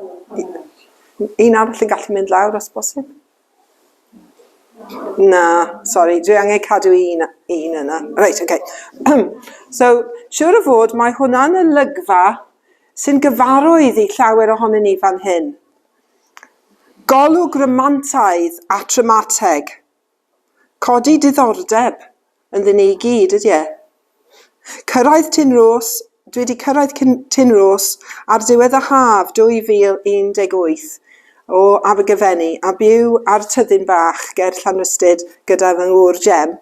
Un arall yn gallu mynd lawr os bosib? Na, sori, dwi angen cadw un, un yna. Reit, oce. Okay. so, siwr o fod, mae hwnna'n olygfa sy'n gyfarwydd i llawer ohonyn ni fan hyn. Golwg rymantaidd a traumateg. Codi diddordeb ynddyn ni i gyd, ydy e? Cyrraedd Tyn Rhos, Dwi wedi cyrraedd cyn, Tyn Rhos ar ddiwedd y haf 2018 o Abergyfenni a byw ar tyddyn bach ger Llanrhystud gyda fy ngŵr Jem.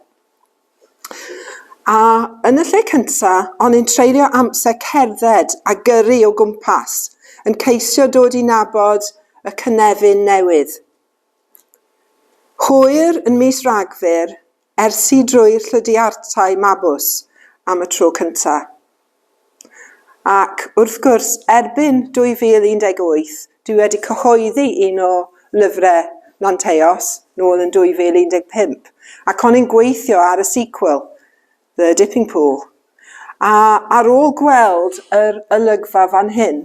A yn y lle cynta, o'n i'n treulio amser cerdded a gyrru o gwmpas, yn ceisio dod i nabod y cynefin newydd. Hwyr yn mis Rhagfyr, ers i drwy Llydiartau Mabws am y tro cynta'. Ac, wrth gwrs, erbyn 2018, dwi wedi cyhoeddi un o lyfre Lanteos, nôl yn 2015, ac o'n i'n gweithio ar y sequel. The Dipping Pool. A ar ôl gweld yr olygfa fan hyn,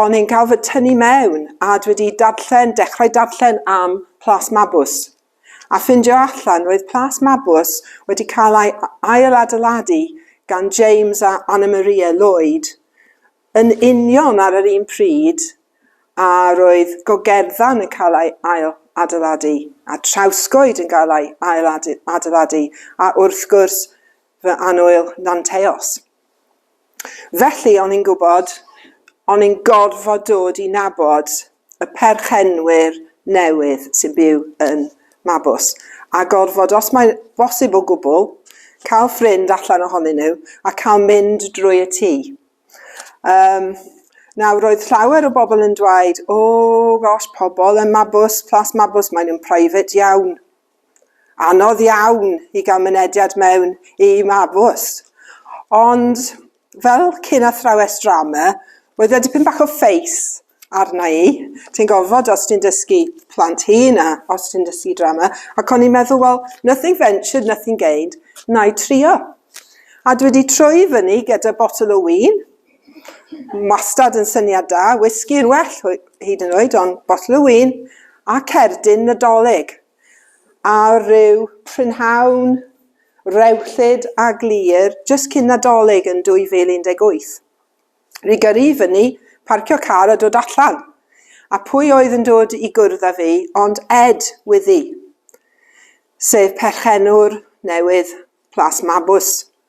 o'n i'n cael fy tynnu mewn a dwi wedi darllen, dechrau darllen am Plas Mabws. A ffindio allan, roedd Plas Mabws wedi cael ei ail-adeiladu gan James a Anna Maria Lloyd Yn union ar yr un pryd a roedd Gogerddan yn cael ei ail-adeiladu, a Trawsgoed yn cael ei ail-adeiladu, a wrth gwrs, fy annwyl Nanteos. Felly, o'n i'n gwybod, o'n i'n gorfod dod i nabod y perchenwyr newydd sy'n byw yn Mabws, a gorfod, os mae'n bosib o gwbl, cael ffrind allan ohonyn nhw a cael mynd drwy y tŷ. Um, nawr, roedd llawer o bobl yn dweud, o, oh, gosh, pobl yn Mabws, Plas Mabws, maen nhw'n private iawn. Anodd iawn i gael mynediad mewn i Mabws. Ond fel cyn athrawes drama, oedd e dipyn bach o ffeis arna i. Ti'n gofod os ti'n dysgu plant hŷn a os ti'n dysgu drama. Ac o'n i'n meddwl, wel, nothing ventured, nothing gained, na i trio. A dwi wedi troi fyny gyda botel o win, Wastad yn syniad da, whisky yn well hyd yn oed, ond bottle o win a cerdyn Nadolig. A rhyw prynhawn rewllyd a glir jyst cyn Nadolig yn 2018. Rhy gyrru i fyny, parcio car a dod allan. A pwy oedd yn dod i gwrdd â fi ond Ed Wyddi, sef perchenwr newydd Plas Mabws.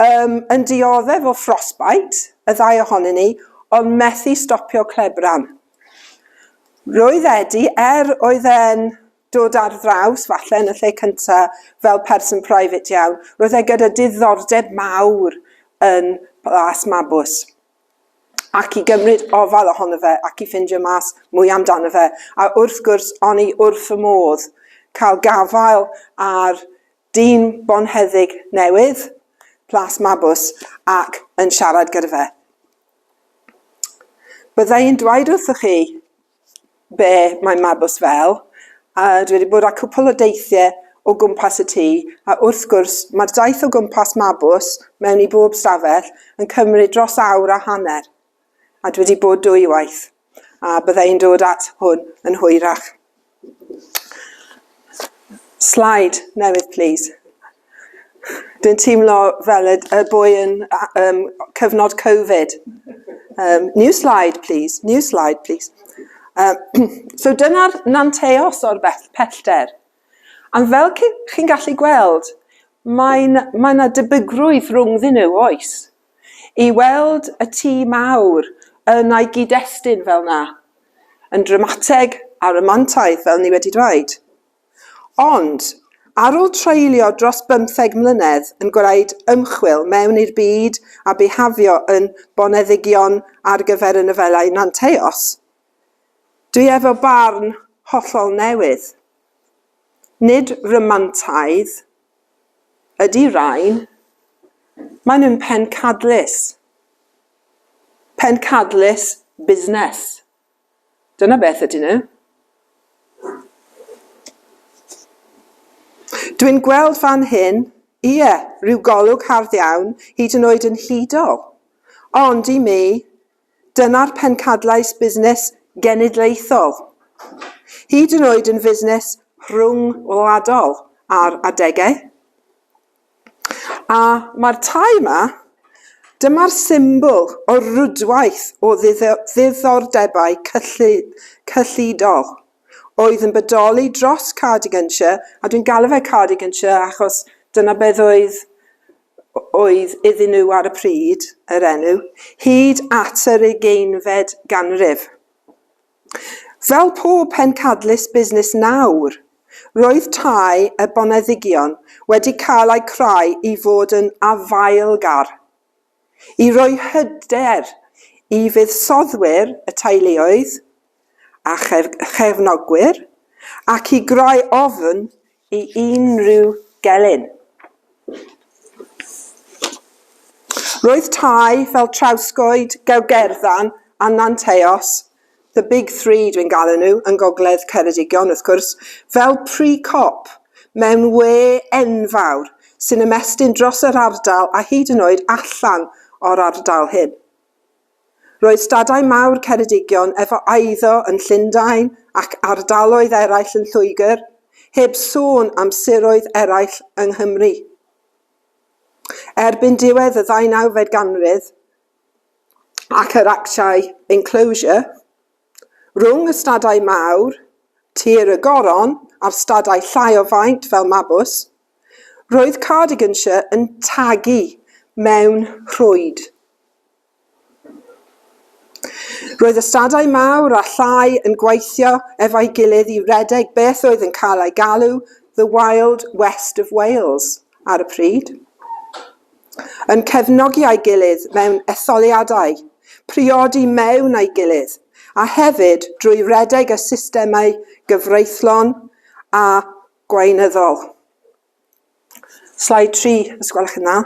Yym, yn dioddef o frostbite, y ddau ohonyn ni, ond methu stopio clebran. Roedd Edi, er oedd e'n dod ar ddraws, falle yn y lle cynta, fel person private iawn, roedd e gyda diddordeb mawr yn Plas Mabws ac i gymryd ofal ohono fe ac i ffindio mas mwy amdano fe, a wrth gwrs, o'n i wrth fy modd cael gafael ar Dyn bonheddig newydd, Plas Mabws, ac yn siarad gyda fe. Bydda i'n dweud wrthych chi be mae Mabws fel, a dwi wedi bod â cwpl o deithiau o gwmpas y tŷ, a wrth gwrs, mae'r daith o gwmpas Mabws, mewn i bob stafell, yn cymryd dros awr a hanner. a dwi wedi bod dwy waith, a bydda i'n dod at hwn yn hwyrach. Slide newydd, please. Dwi'n teimlo fel y, y boi yn um, cyfnod Covid. Um, new slide, please. New slide, please. Um, so dyna'r nanteos o'r pellter. A fel chi'n gallu gweld, mae yna mae debygrwydd rhwng ddyn nhw oes. I weld y tŷ mawr yn ei gyd-destun fel 'na, yn dramateg a rhamantaidd fel ni wedi dweud. Ond, ar ôl treulio dros bymtheg mlynedd yn gwneud ymchwil mewn i'r byd a bihafio yn boneddigion ar gyfer y nofelau Nanteos, dwi efo barn hollol newydd. Nid rhamantaidd ydy rain, maen nhw'n pencadlys. Pencadlys busnes. Dyna beth ydyn nhw. Dwi'n gweld fan hyn, ie, rhyw golwg hardd iawn, hyd yn oed yn hudol. Ond i mi, Dyna'r pencadlais busnes genedlaethol, hyd yn oed yn fusnes rhyngwladol ar adegau. A mae'r tai yma, dyma'r symbol o rwydwaith o ddiddordebau cyllidol oedd yn bodoli dros Cardiganshire, a dwi'n galw fe Cardiganshire achos dyna beth oedd oedd iddyn nhw ar y pryd, yr enw, hyd at yr ugeinfed ganrif. Fel pob pencadlys busnes nawr, roedd tai y boneddigion wedi cael eu creu i fod yn afaelgar, i roi hyder i fuddsoddwyr y teuluoedd, a chefnogwyr ac i greu ofn i unrhyw gelyn. Roedd tai fel Trawscoed, Gewgerddan a Nanteos, the big three dwi'n galw nhw yn Gogledd Ceredigion wrth gwrs, fel pry cop mewn we enfawr sy'n ymestyn dros yr ardal a hyd yn oed allan o'r ardal hyn. Roedd stadau mawr Ceredigion efo eiddo yn Llundain ac ardaloedd eraill yn Lloegr, heb sôn am siroedd eraill yng Nghymru. Erbyn diwedd y ddeunawfed ganrif, ac yr actiau enclosure, rhwng y stadau mawr, Tir y Goron a'r stadau llai o faint fel Mabws, Roedd Cardiganshire yn tagu mewn rhwyd. Roedd ystadau mawr a llai yn gweithio efo'i gilydd i redeg beth oedd yn cael ei galw The Wild West of Wales ar y pryd, yn cefnogi ei gilydd mewn etholiadau, priodi mewn ei gilydd, a hefyd drwy redeg y systemau gyfreithlon a gweinyddol. Slide 3, os gwelwch yn dda.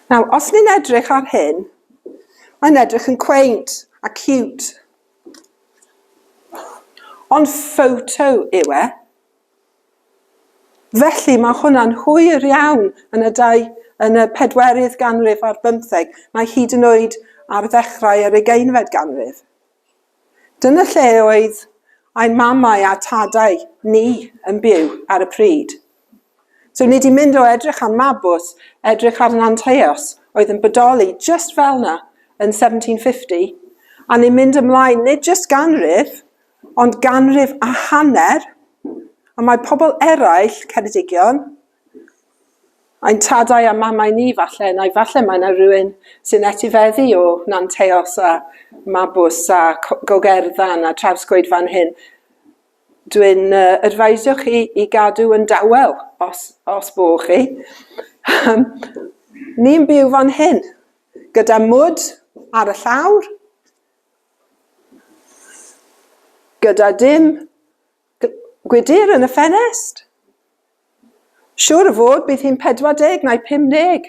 Nawr, os ni'n edrych ar hyn, mae'n edrych yn quaint a cute. Ond photo yw e. Felly mae hwnna'n hwyr iawn yn y, dau, yn y pedwerydd ganrif ar bymtheg, mae hyd yn oed ar ddechrau yr ugeinfed ganrif. Dyna lle oedd ein mamau a tadau ni yn byw ar y pryd. So ni di mynd o edrych ar Mabws, edrych ar Nanteos oedd yn bodoli just fel na yn 1750, a ni'n mynd ymlaen nid just ganrif, ond ganrif a hanner, a mae pobl eraill, Ceredigion, Ein tadau a mamau ni falle, neu falle mae yna rywun sy'n etifeddu o Nanteos a Mabws a Co- Gogerddan a Trawsgwyd fan hyn. Dwi'n yy advisio chi i gadw yn dawel os os bo' chi. Ni'n byw fan hyn gyda mwd ar y llawr, gyda dim Gwydyr yn y ffenest! Siŵr o fod bydd hi'n 40 neu 50.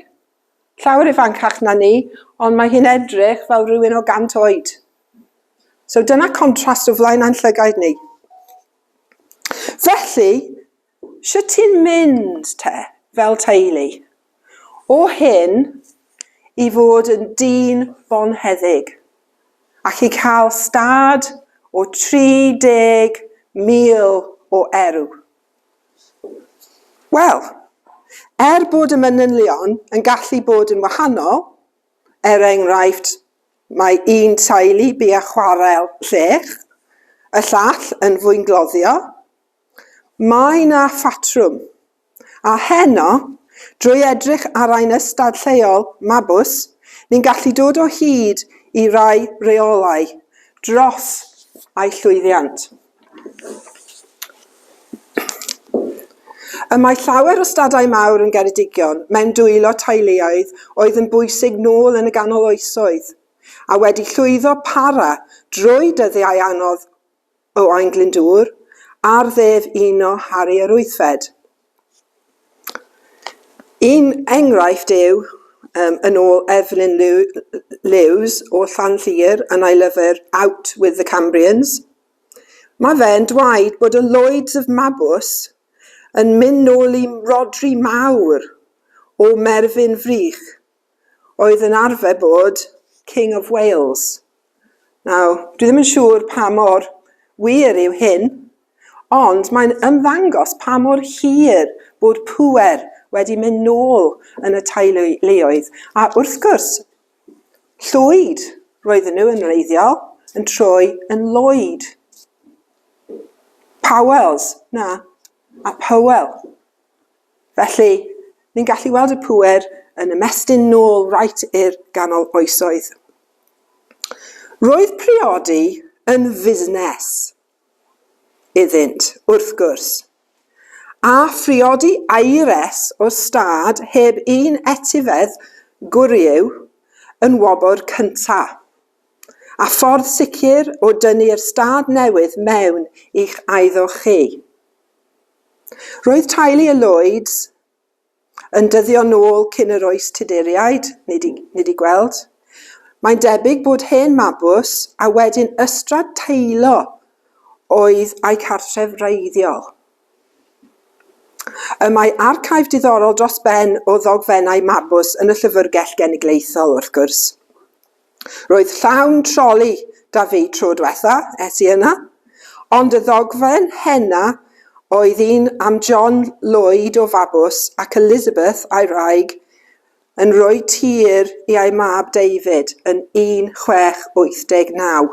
Llawer ifancach na ni, ond mae hi'n edrych fel rhywun o 100 oed. So dyna contrast o flaen ein llygaid ni. Felly, sut ti'n mynd te, fel teulu? O hyn i fod yn dyn bonheddig, ac i cael stad o 30,000 o erw. Wel, er bod y manylion yn gallu bod yn wahanol, er enghraifft, mae un teulu bu â chwarel llech, y llall yn fwyngloddio, mae 'na ffatrwm. A heno, drwy edrych ar ein ystad lleol, Mabws, ni'n gallu dod o hyd i rai rheolau dros eu llwyddiant. Y mae llawer o stadau mawr yn Geredigion mewn dwylo teuluoedd oedd yn bwysig nôl yn y ganol oesoedd, a wedi llwyddo para drwy dyddiau anodd o Ain Glyndŵr, ar ddef un o Harri yr Wythfed. Un enghraifft yw, um, yn ôl Evelyn Lewes o Llanllir yn ei lyfr Out with the Cambrians, mae fe'n dweud bod y Lloyds of Mabws yn mynd nôl i Rodri Mawr o Merfyn Frych, oedd yn arfer bod King of Wales. Nawr, dwi ddim yn siŵr pa mor wir yw hyn, ond mae'n ymddangos pa mor hir bod pŵer wedi mynd nôl yn y teuluoedd. A wrth gwrs, Llwyd roedden nhw yn wreiddiol yn troi yn Lloyd. Powells, na, a Powell. Felly, ni'n gallu weld y pŵer yn ymestyn nôl reit i'r ganol oesoedd. Roedd priodi yn fusnes iddynt, wrth gwrs. A phriodi aeres o stad heb un etifedd gwryw yn wobr cynta'. A ffordd sicr o dynnu'r stad newydd mewn i'ch aeddo chi. Roedd teulu y Lloyds yn dyddio nôl cyn yr oes Tuduriaid, ni 'di, ni 'di gweld. Mae'n debyg bod hen Mabws a wedyn Ystrad Teilo oedd a'u cartref wreiddiol. Y mae archive diddorol dros ben o ddogfennau Mabws yn y Llyfrgell Genedlaethol, wrth gwrs. Roedd llawn troli 'da fi tro dwetha es i yna, ond y ddogfen henna oedd un am John Lloyd o Fabws ac Elizabeth a'i wraig yn rhoi tir i a'i mab David yn 1689.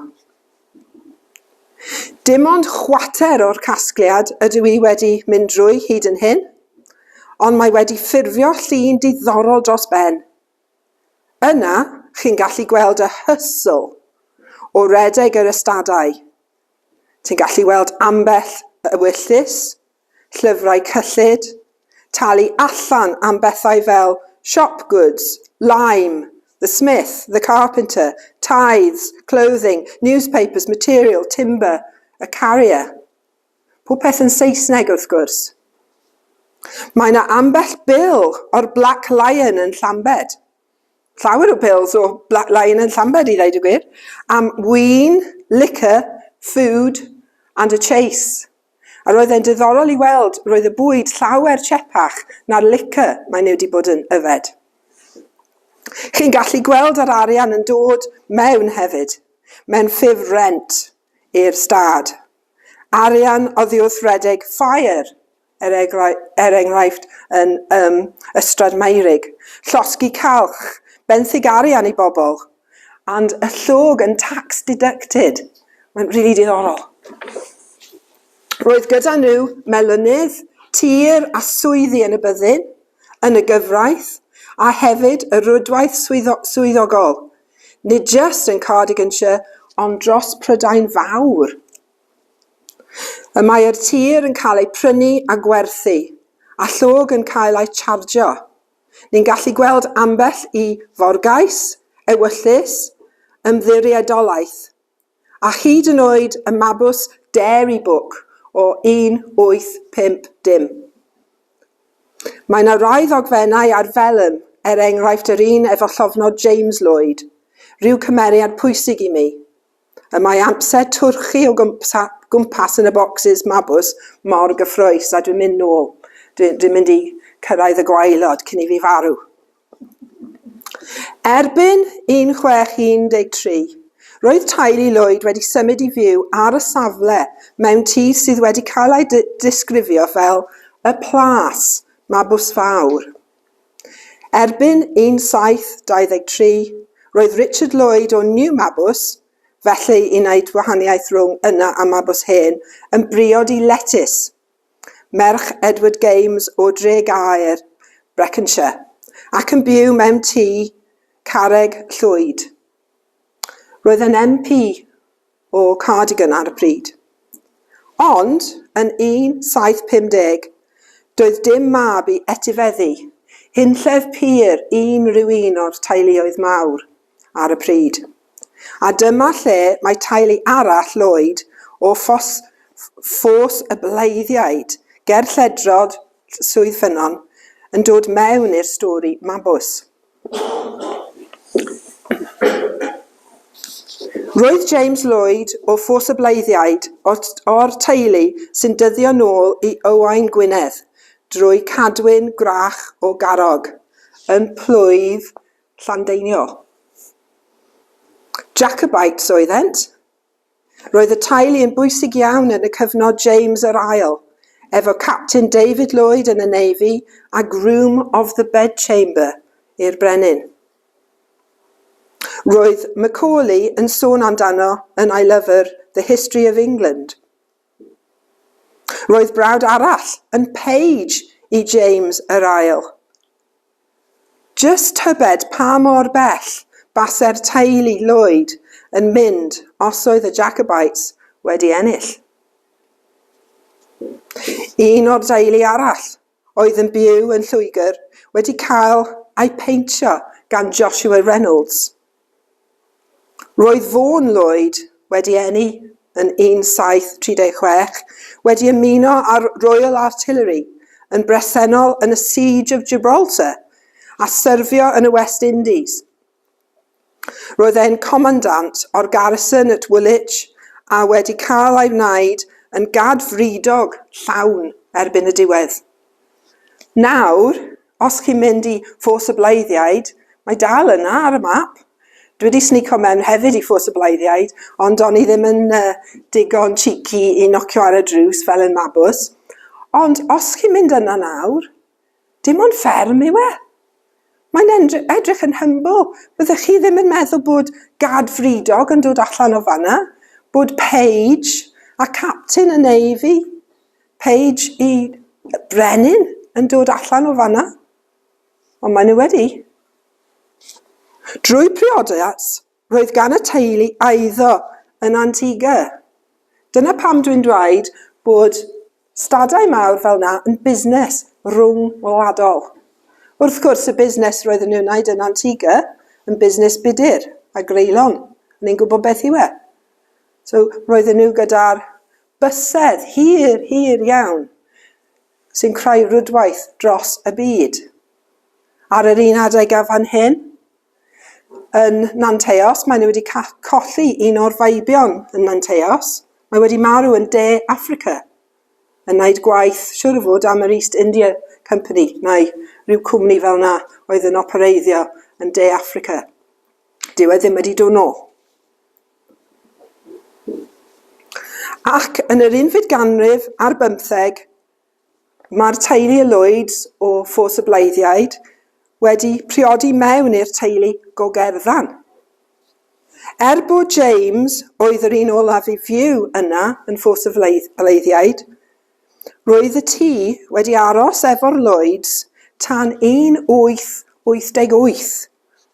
Dim ond chwater o'r casgliad ydw i wedi mynd drwy hyd yn hyn, ond mae wedi ffurfio llun diddorol dros ben. Yna, chi'n gallu gweld y hustle o redeg yr ystadau. Ti'n gallu weld ambell ewyllys, llyfrau cyllid, talu allan am bethau fel shop goods, lime, the smith, the carpenter, tithes, clothing, newspapers, material, timber, a carrier. Popeth yn Saesneg wrth gwrs. Mae 'na ambell bil o'r Black Lion yn Llambed. Llawer o bills o Black Lion yn Llambed i ddeud y gwir, am win, liquor, food and a chase. A roedd e'n diddorol i weld, roedd y bwyd llawer chepach na'r liquor mae nhw wedi bod yn yfed. Chi'n gallu gweld yr arian yn dod mewn hefyd, mewn ffurf rent i'r stad. arian oddiwrth redeg ffair, er egr- er enghraifft yn um, Ystrad Meurig, llosgi calch, benthyg arian i bobl, and y llog yn tax deducted. Mae'n rili really diddorol. Roedd gyda nhw melynydd, tir a swyddi yn y byddin, yn y gyfraith, a hefyd y rwydwaith swyddo, swyddogol, Nid jyst yn Cardiganshire ond dros Prydain Fawr. Y mae'r tir yn cael ei prynu a gwerthu, a llog yn cael ei chargio. Ni'n gallu gweld ambell i forgais, ewyllys, ymddiriedolaeth. a hyd yn oed y mabws Dairy Book o 1850. Mae 'na rai ddogfennau ar felym, er enghraifft yr un efo llofnod James Lloyd, rhyw cymeriad pwysig i mi. Y mae amser twrchu o gwmpas yn y bocsys mabws mor gyffrous a dwi'n mynd nôl, dwi'n mynd i cyrraedd y gwaelod cyn i fi farw. Erbyn 1613, roedd teulu Lloyd wedi symud i fyw ar y safle mewn tŷ sydd wedi cael ei ddisgrifio fel y 'Plas Mabws Fawr'. Erbyn 1723, roedd Richard Lloyd o New Mabws, felly i wneud gwahaniaeth rhwng yna a Mabws Hen, yn briod i letys. merch Edward Games o Dregaer, Breconshire, ac yn byw mewn tŷ carreg llwyd. Roedd yn MP o Cardigan ar y pryd. Ond, yn 1750, doedd dim mab i etifeddu hunllef pur unrhyw un o'r teuluoedd mawr. ar y pryd. A dyma lle mae teulu arall Lloyd o Ffos, Ffos y Bleiddiaid, ger lledrod Swydd Ffynnon, yn dod mewn i'r stori mabws. Roedd James Lloyd o Ffos y Bleiddiaid o'r teulu sy'n dyddio nôl i Owain Gwynedd drwy Cadwyn Gwrach o Garrog, yn plwyf Llandeinio. Jacobites oeddent. Roedd y teulu yn bwysig iawn yn y cyfnod James yr Ail, efo Captain David Lloyd yn y Navy a Groom of the Bedchamber i'r brenin. Roedd Macaulay yn sôn amdano yn I Lover, The History of England. Roedd brawd arall yn Paige i James yr ail. Just tybed pa mor bell base'r teulu Lloyd yn mynd os oedd y Jacobites wedi ennill. Un o'r deulu arall oedd yn byw yn Lloegr wedi cael ei pheintio gan Joshua Reynolds. Roedd Vaughan Lloyd wedi enni yn 1736, wedi ymuno â'r Royal Artillery yn bresennol yn y Siege of Gibraltar a syrfio yn y West Indies. Roedd e'n comandant o'r garrison at Woolwich a wedi cael ei wneud yn gad wrydog llawn erbyn y diwedd. Nawr, os chi'n mynd i Ffos y Bleiddiaid, mae dal yna ar y map. Dwi wedi snico mewn hefyd i Ffos y Bleiddiaid, ond o'n i ddim yn uh, digon cheeky i nocio ar y drws fel yn Mabws. Ond os chi'n mynd yna nawr, Dim ond fferm yw e. Mae'n edrych yn humble. Byddech chi ddim yn meddwl bod gad fridog yn dod allan o fanna, bod Paige a Captain y Navy, Paige i Brenin yn dod allan o fanna. Ond maen nhw wedi. Drwy priodas, Roedd gan y teulu eiddo yn Antigua. Dyna pam dwi'n dweud bod stadau mawr fel 'na yn busnes rwng-wladol. Wrth gwrs, y busnes roedden nhw'n wneud yn Antigua yn busnes budur a greulon, o'n i'n gwybod beth yw e. So, roedden nhw gyda'r bysedd hir, hir iawn sy'n creu rwydwaith dros y byd. Ar yr un adeg a fan hyn, yn Nanteos. Maen nhw wedi colli un o'r feibion yn Nanteos. Mae wedi marw yn De Affrica yn wneud gwaith siwr o fod am yr East India Company neu rhyw cwmni fel yna oedd yn opereiddio yn De Affrica. Dyw e ddim wedi dod nôl. Ac yn yr unfyd ganrif ar bymtheg, Mae'r teulu y Lloyds o Ffos y Bleiddiaid wedi priodi mewn i'r teulu go gerfan. Er bod James oedd yr un olaf i fyw yna yn Ffos y Bleiddiaid, roedd y tŷ wedi aros efo'r Lloyds tan 1888.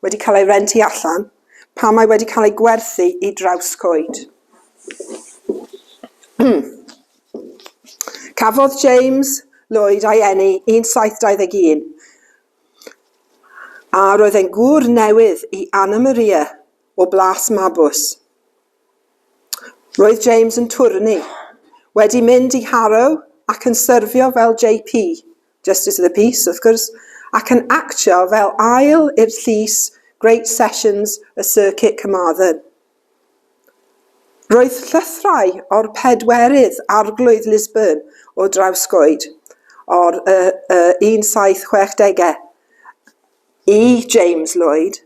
wedi cael ei rentu allan, pan mae wedi cael ei gwerthu i Drawscoed. Cafodd James Lloyd ei eni yn 721, a roedd e'n gŵr newydd i Anna Maria o Blas Mabws. Roedd James yn twrni, wedi mynd i Harrow ac yn syrfio fel JP Justice of the Peace, wrth gwrs, ac yn actio fel ail i'r llys Great Sessions y Sir Kit Carmarthen. Roedd llythyrau o'r pedwerydd arglwydd Lisburn o Drawscoed o'r uh, uh, 1760au i James Lloyd,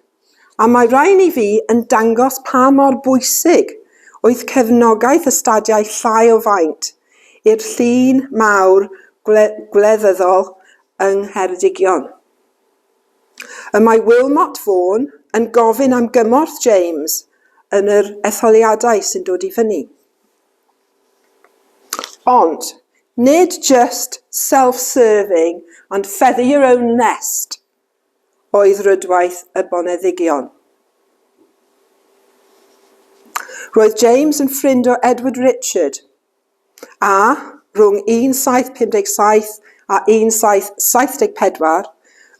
a mae rhain i fi yn dangos pa mor bwysig oedd cefnogaeth y stadiau llai o faint i'r llun mawr gwleddyddol yng Ngheredigion. Y mae Wilmot Vaughan yn gofyn am gymorth James yn yr etholiadau sy'n dod i fyny. Ond, nid jyst self-serving and feather your own nest oedd rwydwaith y boneddigion. Roedd James yn ffrind o Edward Richard, a, rhwng 1757 a 1774,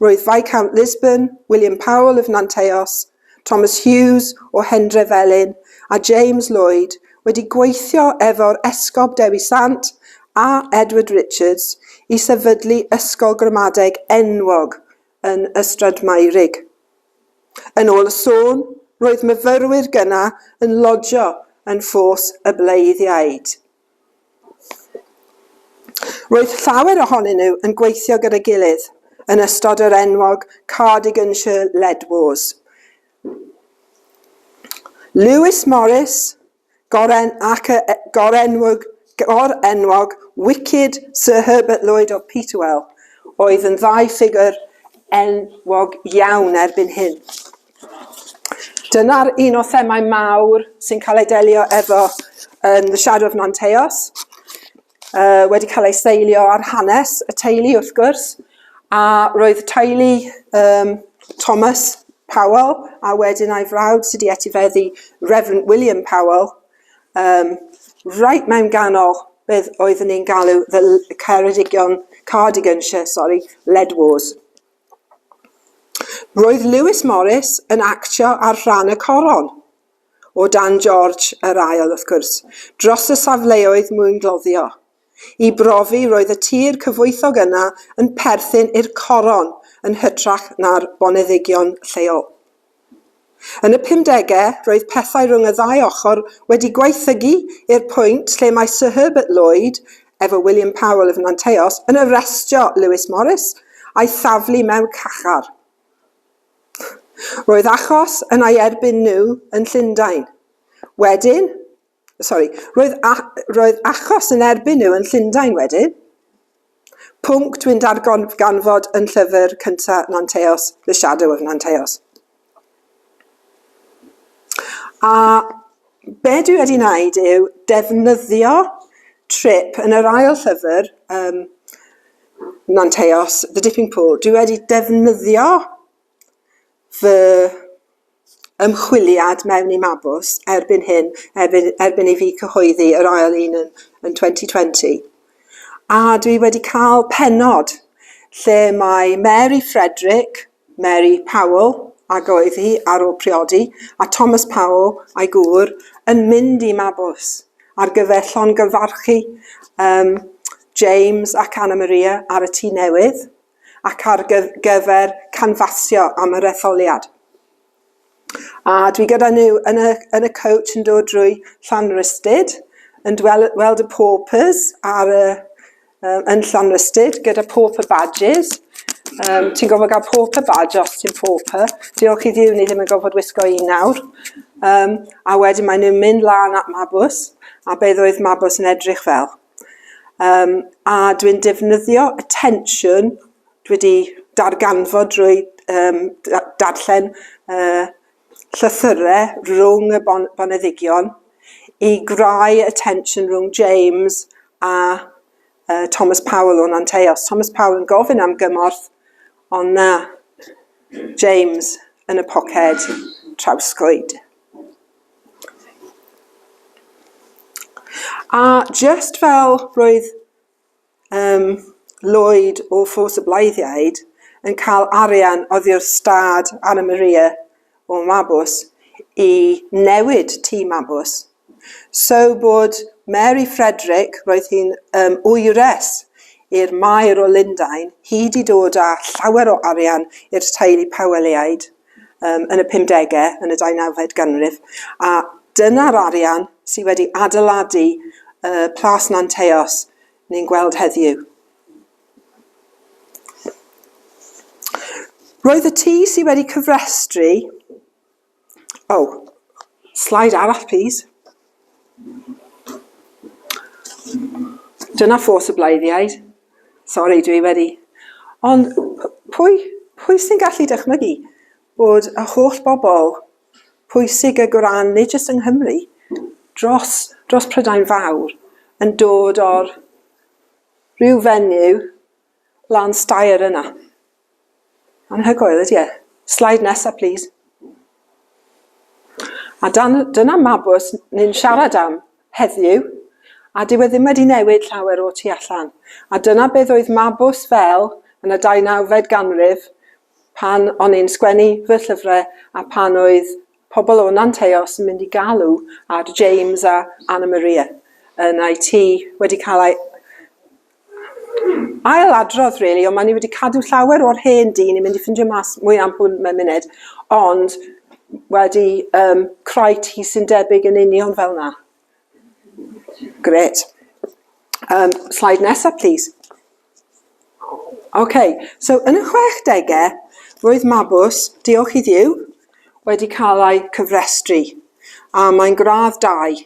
roedd Viscount Lisburn, William Powell of Nanteos, Thomas Hughes o Hendrefelin a James Lloyd wedi gweithio efo'r Esgob Dewi Sant a Edward Richards i sefydlu ysgol gramadeg enwog yn Ystradmeurig. Yn ôl y sôn, roedd myfyrwyr gyna yn lodio yn ffos y bleiddiaid. Roedd llawer ohonyn nhw yn gweithio gyda'i gilydd yn ystod yr enwog Cardiganshire Lead Wars. Lewis Morris, goren ac y gorenwg, gorenwog Wicked Sir Herbert Lloyd of Peterwell, oedd yn ddau ffigwr enwog iawn erbyn hyn. Dyna'r un o themâu mawr sy'n cael ei delio efo yn The Shadow of Nanteos. Uh, wedi cael ei seilio ar hanes y teulu wrth gwrs, a roedd teulu um, Thomas Powell a wedyn a'i frawd sydd wedi etifeddu Reverend William Powell, um, right mewn ganol beth oeddwn ni'n galw the Ceredigion, Cardiganshire, sorry, Lead Wars. Roedd Lewis Morris yn actio ar ran y coron, o dan George yr Ail, wrth gwrs, dros y safleoedd mwyngloddio. I brofi, roedd y tir cyfoethog yna yn perthyn i'r coron yn hytrach na'r boneddigion lleol. Yn y pumdegau, roedd pethau rhwng y ddau ochr wedi gwaethygu i'r pwynt lle mae Sir Herbert Lloyd, efo William Powell of Nanteos, yn arestio Lewis Morris a'i thaflu mewn cachar. Roedd achos yn ei erbyn nhw yn Llundain. Wedyn, Sori, roedd, a, roedd achos yn erbyn nhw yn Llundain wedyn. Pwnc dwi'n darganfod yn llyfr cynta Nanteos, The Shadow of Nanteos. A be dwi wedi wneud yw defnyddio trip yn yr ail llyfr, um, Nanteos, The Dipping Pool, dwi wedi defnyddio fy ymchwiliad mewn i Mabws erbyn hyn, erbyn erbyn i fi cyhoeddi yr ail un yn yn 2020. A dwi wedi cael pennod lle mae Mary Frederick, Mary Powell, ag oedd hi ar ôl priodi, a Thomas Powell a'i gŵr yn mynd i Mabws ar gyfer llongyfarchu um, James ac Anna Maria ar y tŷ newydd. ac ar gyfer canfasio am yr etholiad. A dwi gyda nhw yn y, yn y coach yn dod drwy Llanrhystud, yn weld y paupers ar y, um, yn Llanrhystud gyda pauper badges. Um, ti'n gofod gael pauper badge os ti'n pauper. Diolch i ddiw ni ddim yn gofod wisgo un nawr. Um, a wedyn maen nhw'n mynd lan at Mabws a beth oedd Mabws yn edrych fel. Um, a dwi'n defnyddio y tensiwn dwi wedi darganfod drwy um, darllen uh, llythyrau rhwng y bon boneddigion i grau y tensiwn rhwng James a uh, Thomas Powell o'n Anteos. Thomas Powell yn gofyn am gymorth, ond na, James yn y poced trawsgwyd. A jyst fel roedd yym Lloyd o Ffos y Bleiddiaid yn cael arian oddio'r stad Anna Maria o Mabws i newid tîm Mabws, so bod Mary Frederick, roedd hi'n yym wyres i'r Maer o Lundain, hi 'di dod â llawer o arian i'r teulu Powelliaid. um, yn y 50au, yn y 19fed ganrif, a dyna'r arian sydd wedi adeiladu uh, Plas Nanteos ni'n gweld heddiw. Roedd y tŷ sydd wedi cyfrestru... Oh, slide arall, please. Dyna ffos y bleiddiaid. Sori, dwi wedi... Ond pwy, pwy sy'n gallu dychmygu bod y holl bobl pwysig ag o ran, nid jyst yng Nghymru, dros, dros Prydain Fawr, yn dod o'r rhyw fenyw, Lan stair yna. Anhygoel, ydy e? Slide nesa, plîs. A dan, dyna mabws ni'n siarad am heddiw, a dyw e ddim wedi newid llawer o tu allan. A dyna beth oedd mabws fel yn y 19fed ganrif, pan o'n i'n sgwennu fy llyfrau a pan oedd pobl o Nanteos yn mynd i galw ar James a Anna Maria yn eu tŷ wedi cael ei ail adrodd rili really, ond maen ni wedi cadw llawer o'r hen dyn ni'n mynd i ffindio mas mwy am hwn mewn munud ond wedi um, creu ti sy'n debyg yn union fel yna. Gret. Um, slide nesaf, please. OK, so yn y 60au, roedd Mabws, diolch i ddiw, wedi cael ei cyfrestru. A mae'n gradd 2.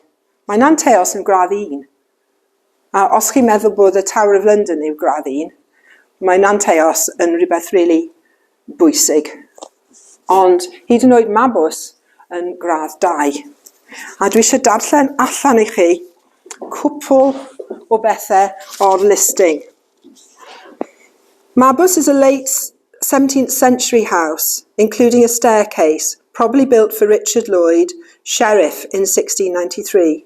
Mae'n anteos yn gradd 1. A os chi'n meddwl bod y Tower of London yw gradd un, mae Nanteos yn rhywbeth really bwysig. Ond hyd yn oed Mabws yn gradd 2. A dwi eisiau darllen allan i chi cwpl o bethau o'r listing. Mabws is a late 17th century house, including a staircase, probably built for Richard Lloyd, sheriff, in 1693.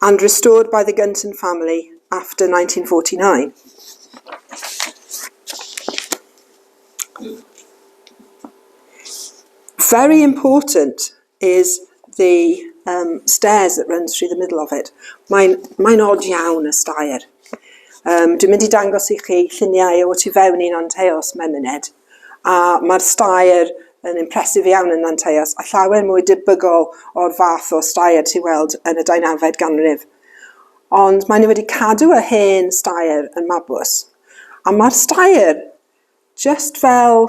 and restored by the Gunton family after 1949. Very important is the um, stairs that runs through the middle of it. Mae'n mae odd iawn y stair. Um, dwi'n mynd i dangos i chi lluniau o tu fewn un o'n teos mewn munud. A mae'r staer yn impressive iawn yn Nanteos, a llawer mwy debygol o'r fath o staer ti weld yn y deunawfed ganrif. Ond maen nhw wedi cadw y hen staer yn mabws. A mae'r staer just fel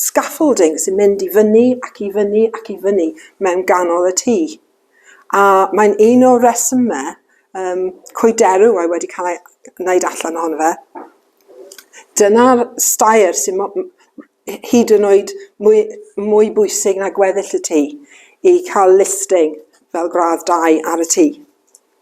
scaffolding sy'n mynd i fyny ac i fyny ac i fyny mewn ganol y tŷ. A mae'n un o'r rhesymau yym coederw oedd wedi cael ei wneud allan ohono fe. Dyna'r stair sy'n mo- m- h- hyd yn oed mwy, mwy bwysig na gweddill y tŷ i cael listing fel gradd 2 ar y tŷ.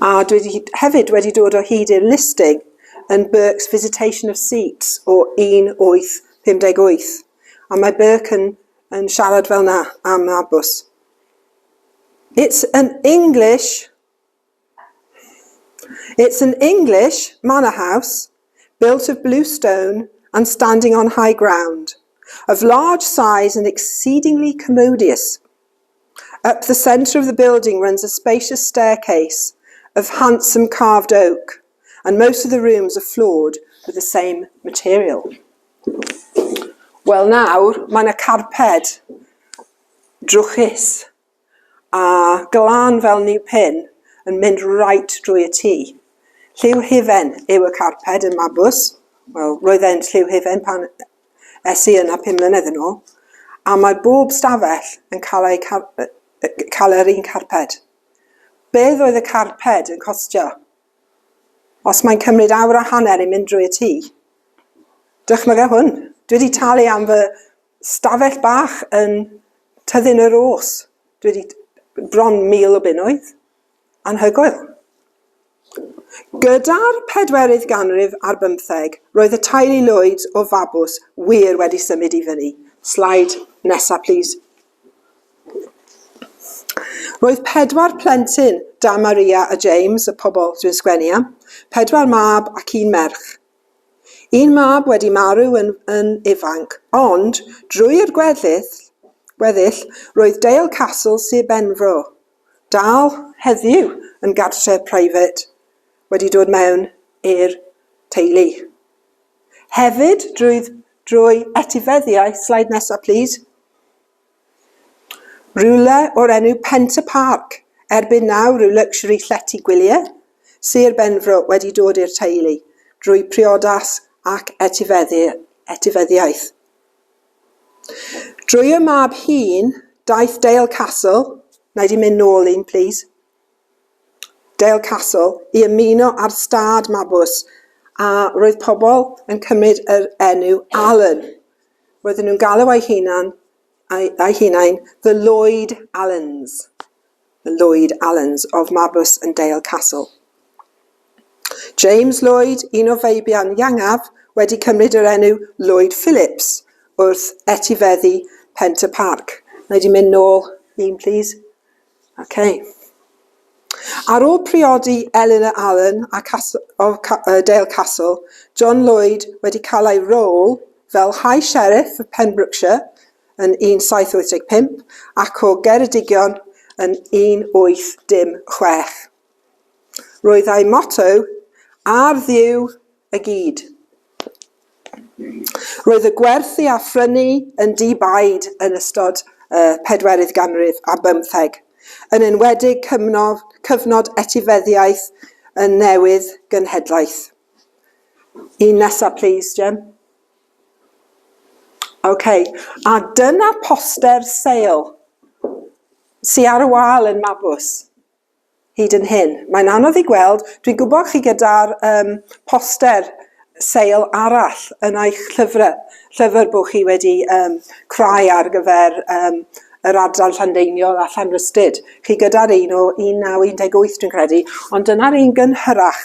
A dwi wedi hyd- hefyd wedi dod o hyd i'r listing yn Burke's Visitation of Seats o 1858. A mae Burke yn, yn siarad fel na am y bws. It's an English... It's an English manor house built of blue stone and standing on high ground, of large size and exceedingly commodious. Up the centre of the building runs a spacious staircase of handsome carved oak and most of the rooms are floored with the same material. Wel nawr, mae yna carped drwchus a glan fel new pin yn mynd right drwy y tŷ. Lliw hufen yw y carped yn Mabws. Wel, roedd e'n lliw hufen pan es i yna pum mlynedd yn ôl, a mae bob stafell yn cael eu car- yy yy cael yr un carped. Beth oedd y carped yn costio? Os mae'n cymryd awr a hanner i mynd drwy y tŷ, dychmyga hwn, dwi wedi talu am fy stafell bach yn Tyddyn y Rôs, dwi wedi bron mil o bunnoedd. Anhygoel. Gyda'r pedwerydd ganrif ar bymtheg, roedd y teulu Lloyd o Fabws wir wedi symud i fyny. Slaid nesa plîs. Roedd pedwar plentyn, da Maria a James, y pobl dwi'n sgwennu am, pedwar mab ac un merch. Un mab wedi marw yn, yn ifanc, ond drwy'r gweddill, gweddill, roedd Dale Castle, Sir Benfro, dal heddiw yn gartref private wedi dod mewn i'r teulu. Hefyd, drwy, drwy etifeddiaeth, slide nesa please, rhywle o'r enw Pent y Parc, erbyn nawr rhyw luxury llety gwyliau, Sir Benfro wedi dod i'r teulu drwy priodas ac etifeddi, etifeddiaeth. Drwy y mab hŷn, daeth Dale Castle, wna i di mynd nôl un, plis, Dale Castle, i ymuno â'r stad Mabws, a roedd pobl yn cymryd yr enw Allen. Roedden nhw'n galw eu hunan, eu, eu hunain The Lloyd Allens. Lloyd Allens of Marbus and Dale Castle. James Lloyd, un o feibion Iangaf, wedi cymryd yr enw Lloyd Phillips wrth etifeddu Pent y Parc. Mae wedi mynd nôl un, please. Okay. Ar ôl priodi Eleanor Allen a Castle, o Dale Castle, John Lloyd wedi cael ei rôl fel High Sheriff of Pembrokeshire, yn 1785 ac o Geredigion yn 1816. Roedd ei motto, Ar Dduw y gyd. Roedd y gwerthu a phrynu yn di-baid yn ystod y pedwerydd ganrif a bymtheg, yn enwedig cyfnod, cyfnod etifeddiaeth yn newydd gynhedlaeth. Un nesa, please, Jim. Ok, a dyna poster sale sy ar y wal yn Mabws hyd yn hyn. Mae'n anodd i gweld, dwi'n gwybod chi gyda'r um, poster sale arall yn eich llyfrau, llyfr bod chi wedi um, crai ar gyfer um, yr adran Llandeiniol a Llanrystud. Chi gyda'r un o 1918 dwi'n credu, ond dyna'r un gynhyrach.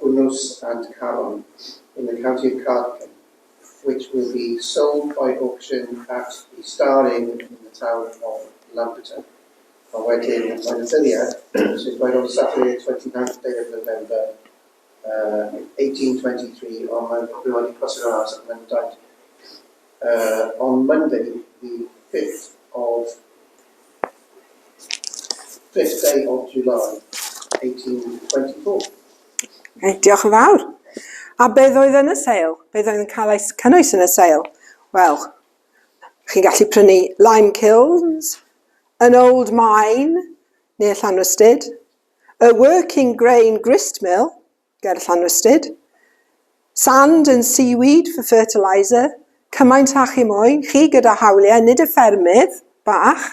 Gwnnws and Caron in the County of Cardigan which will be sold by auction at the Star Inn in the town of Lampeter. A wedyn mae'n ystyried sy'n dweud on Saturday 29th day of November uh, 1823 ond mae'n rhywbeth i cross yr arms ac mae'n dweud Uh, on Monday, the 5th of 5th day of July, 1824. Okay, diolch yn fawr. A beth oedd yn y sale? Beth oedd yn cael ei cynnwys yn y sale? Wel, chi'n gallu prynu lime kilns, an old mine, neu Llanrwstyd, a working grain grist mill, ger Llanwstud. Sand and seaweed for fertiliser, cymaint â chi moyn, chi gyda hawliau, nid y ffermydd bach,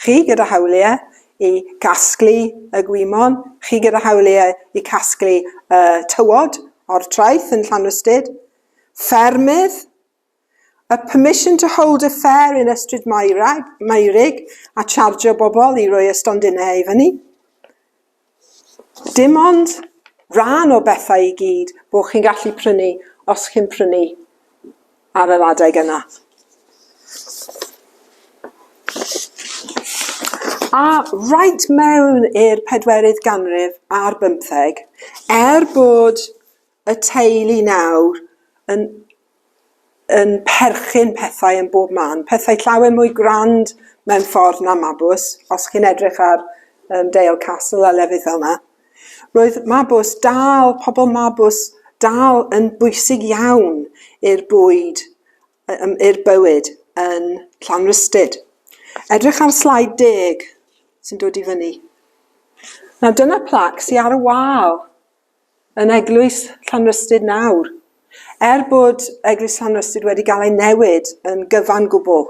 chi gyda hawliau i gasglu y gwymon, chi gyda hawliau i casglu y tywod o'r traeth yn Llanwstud. Ffermydd, A permission to hold a fair yn Ystryd Meurig a chargio bobl i roi y stondinau i fyny. Dim ond rhan o bethau i gyd bod chi'n gallu prynu os chi'n prynu ar yr adeg yna. A rhaid mewn i'r pedwerydd ganrif ar bymtheg, er bod y teulu nawr yn yn perchyn pethau yn bob man, pethau llawer mwy grand mewn ffordd na Mabws, os chi'n edrych ar um, Dale Castle a lefydd fel yna. Roedd Mabws dal, pobl Mabws dal yn bwysig iawn i'r bwyd, i'r bywyd yn Llanrhystud. Edrych ar slaid deg sy'n dod i fyny. Nawr dyna plac sy'n ar y wal yn Eglwys Llanrystud nawr. Er bod Eglwys Llanrystud wedi gael ei newid yn gyfan gwbl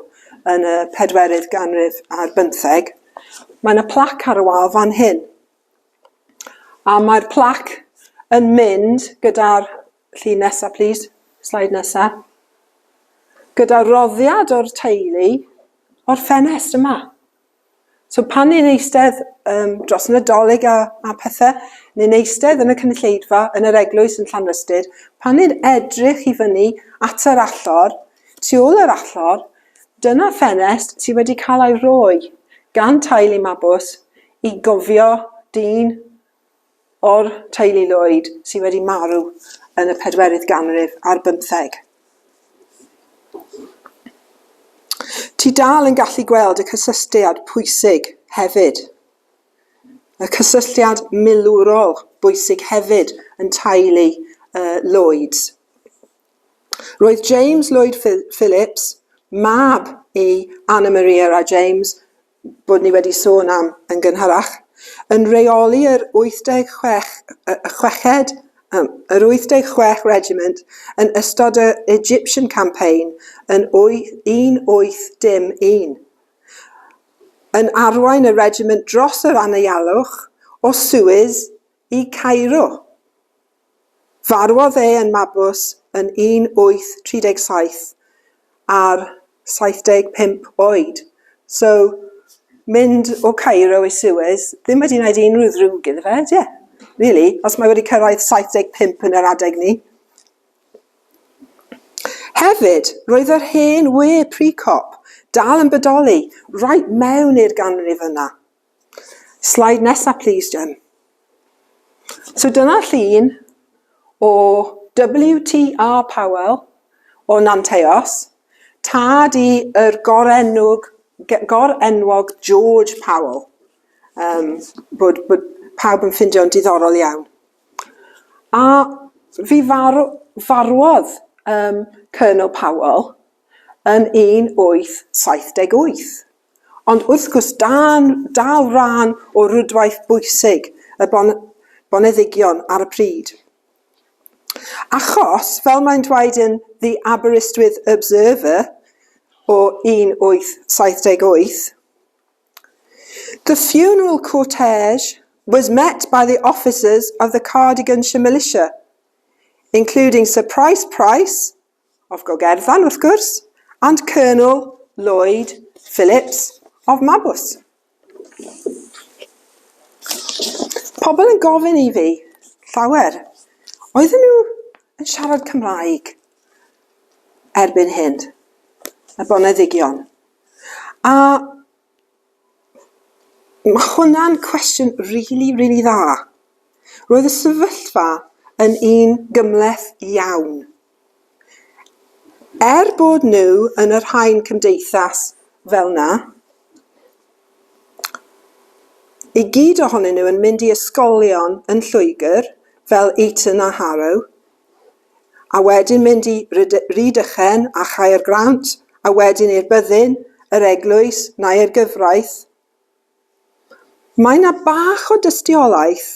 yn y pedwerydd ganrif ar bymtheg, mae yna plac ar y wal fan hyn. A mae'r plac yn mynd gyda'r llun nesaf, plis, slaid nesaf, gyda'r roddiad o'r teulu o'r ffenest yma. So pan ni'n eistedd um, dros Nadolig a, a pethau, ni'n eistedd yn y cynulleidfa, yn yr eglwys yn Llanrhystud, pan ni'n edrych i fyny at yr allor, tu ôl yr allor, dyna ffenest sydd wedi cael ei roi gan tail i mabws i gofio dyn o'r teulu Lloyd sydd wedi marw yn y pedwerydd ganrif ar bymtheg. Ti dal yn gallu gweld y cysylltiad pwysig hefyd, y cysylltiad milwrol bwysig hefyd yn teulu uh, Lloyds. Roedd James Lloyd Phillips, mab i Anna Maria a James, bod ni wedi sôn am yn gynharach, yn rheoli yr 86 y chweched, um, yr 86 Regiment yn ystod y Egyptian Campaign yn 1801, yn arwain y regiment dros yr anaealwch o Suez i Cairo. Farwodd e yn Mabus yn 1837 ar 75 oed. So, mynd o Cairo i Suez ddim wedi gwneud unrhyw ddrwg iddo fe, ie, really, os mae wedi cyrraedd 75 yn yr adeg ni. Hefyd, roedd yr hen we pre-cop dal yn bodoli right mewn i'r ganrif yna. Slide nesa plîs, Jen. So dyna llun o WTR Powell o Nanteos, tad i yr gorenwg, gorenwog George Powell, um, bod, bod pawb yn ffindio'n diddorol iawn. A fi farw, farwodd um, Colonel Powell yn 1878. Ond wrth gwrs dan dal rhan o rwydwaith bwysig y bon boneddigion ar y pryd. Achos, fel mae'n dweud yn The Aberystwyth Observer o 1878, The funeral cortege was met by the officers of the Cardiganshire Militia, including Sir Price Price, of Gogerfan, wrth gwrs, and Colonel Lloyd Phillips of Mabws. Pobl yn gofyn i fi, llawer, oedden nhw yn siarad Cymraeg erbyn hyn, y boneddigion. A Ma' hwnna'n cwestiwn rili, rili dda. Roedd y sefyllfa yn un gymhleth iawn. Er bod nhw yn yr haen cymdeithas fel 'na, i gyd ohonyn nhw yn mynd i ysgolion yn Lloegr, fel Eton a Harrow, a wedyn mynd i Rhydychen a Chaergrawnt, a wedyn i'r byddin, yr eglwys, neu'r gyfraith. Mae yna bach o dystiolaeth.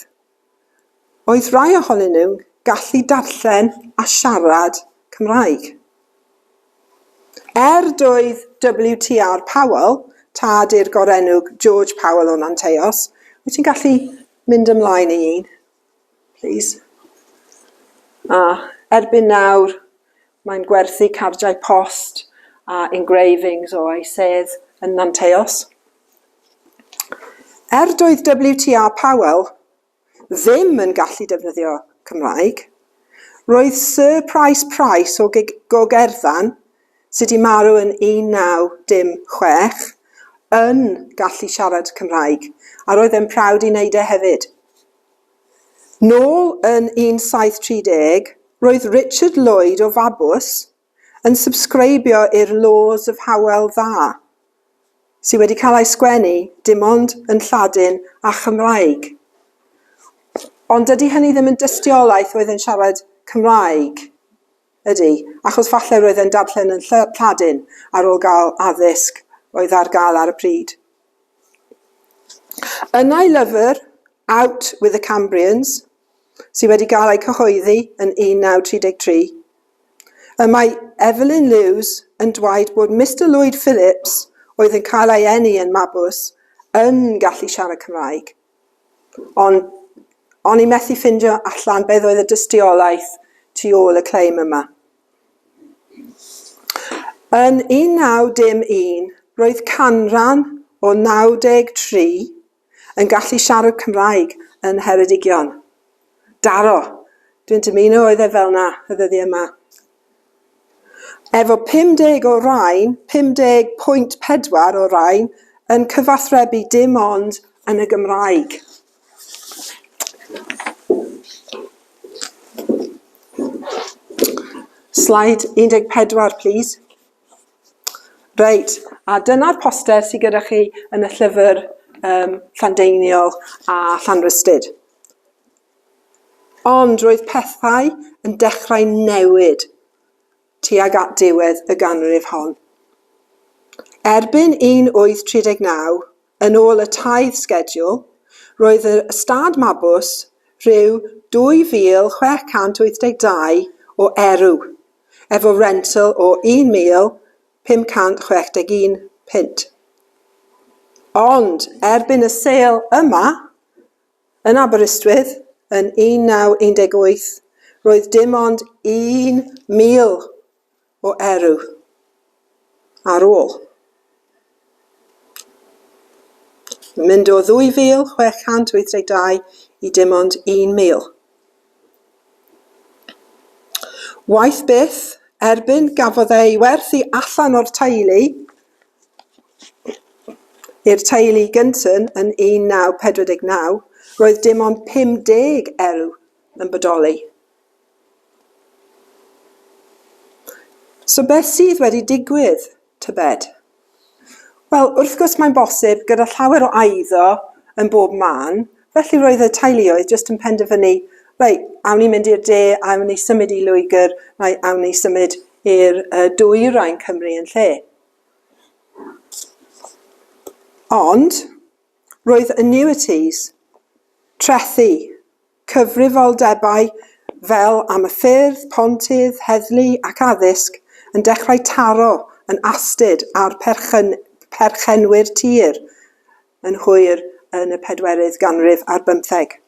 Oedd rhai ohonyn nhw'n gallu darllen a siarad Cymraeg. Er doedd WTR Powell, tad i'r gorenwg George Powell o Nanteos, wyt ti'n gallu mynd ymlaen i un? Plîs. A, erbyn nawr, mae'n gwerthu cardiau post a engravings o ei sedd yn Nanteos. Er doedd WTA Powell ddim yn gallu defnyddio Cymraeg, roedd Sir Pryce Price o Gig Gogerddan sy 'di marw yn 1916, yn gallu siarad Cymraeg, a roedd e'n proud i wneud e hefyd. Nôl yn 1730, roedd Richard Lloyd o Fabws yn subscribio i'r Laws of Howell Dda, sy wedi cael ei sgwennu dim ond yn Lladin a Chymraeg. Ond dydy hynny ddim yn dystiolaeth oedd e'n siarad Cymraeg. Ydy, achos falle roedd e'n darllen yn Lly- Lladin ar ôl gael addysg oedd ar gael ar y pryd. Yn ei lyfr Out with the Cambrians, sydd wedi gael ei cyhoeddi yn 1933, y mae Evelyn Lewes yn dweud bod Mister Lloyd Phillips, oedd yn cael ei eni yn Mabws, yn gallu siarad Cymraeg. Ond o'n i methu ffindio allan beth oedd y dystiolaeth tu ôl y claim yma. Yn 1911, roedd canran o 93 yn gallu siarad Cymraeg yn Ngheredigion. Daro! Dwi'n dymuno oedd e fel 'na y ddyddiau 'ma. Efo 50 o rain, 50.4 o rain, yn cyfathrebu dim ond yn y Gymraeg. Slide 14, please. Reit, a dyna'r poster sydd gyda chi yn y llyfr um, Llandeiniol a Llanrhystud. Ond roedd pethau yn dechrau newid tuag at diwedd y ganrif hon. Erbyn 1839, Yn ôl y taith sgediwl, roedd yr ystâd Mabws rhyw 2,682 o erw, efo rentl o 1,561 punt. Ond erbyn y sêl yma, yn Aberystwyth, yn 1918, roedd dim ond 1,000 o erw ar ôl mynd o 2,682 i dim ond 1,000. Waeth beth, erbyn gafodd e ei werthu allan o'r teulu i'r teulu gyntyn yn 1949, roedd dim ond 50 erw yn bodoli. So beth sydd wedi digwydd, tybed? Wel, wrth gwrs mae'n bosib gyda llawer o eiddo yn bob man, felly roedd y teuluoedd jyst yn penderfynu, reit, awn ni mynd i'r de, awn ni symud i Lwygr, neu awn ni symud i'r uh, dwyrain Cymru yn lle. Ond roedd annuities, trethi, Cyfrifoldebau fel am y ffyrdd, pontydd, heddlu ac addysg yn dechrau taro yn astud ar perchennwyr tir yn hwyr yn y pedwerydd ganrif ar bymtheg.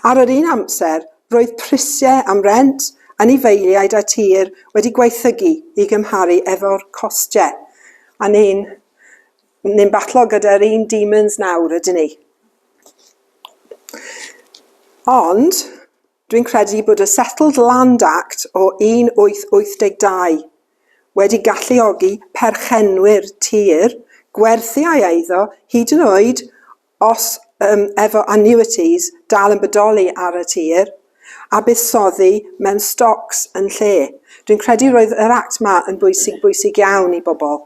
Ar yr un amser, roedd prisiau am rent, anifeiliaid a tir wedi gwaethygu i gymharu efo'r costiau a ni'n Ni'n batlo gyda'r un demons nawr, ydyn ni? Ond, dwi'n credu bod y Settled Land Act o 1882 wedi galluogi perchenwyr tir gwerthu ei eiddo hyd yn oed os yw'r efo annuities dal yn bodoli ar y tir, a buddsoddi mewn stocs yn lle. Dwi'n credu roedd yr Act 'ma yn bwysig, bwysig iawn i bobl.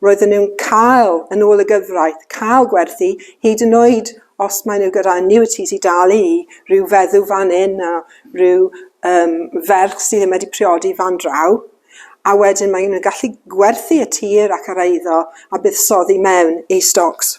Roedden nhw'n cael, yn ôl y gyfraith, cael gwerthu, hyd yn oed os maen nhw gyda annuities i dalu i ryw feddw fan hyn a ryw um, ferch sydd ddim wedi priodi fan draw, a wedyn maen nhw'n gallu gwerthu y tir ac yr eiddo a buddsoddi mewn i stocs.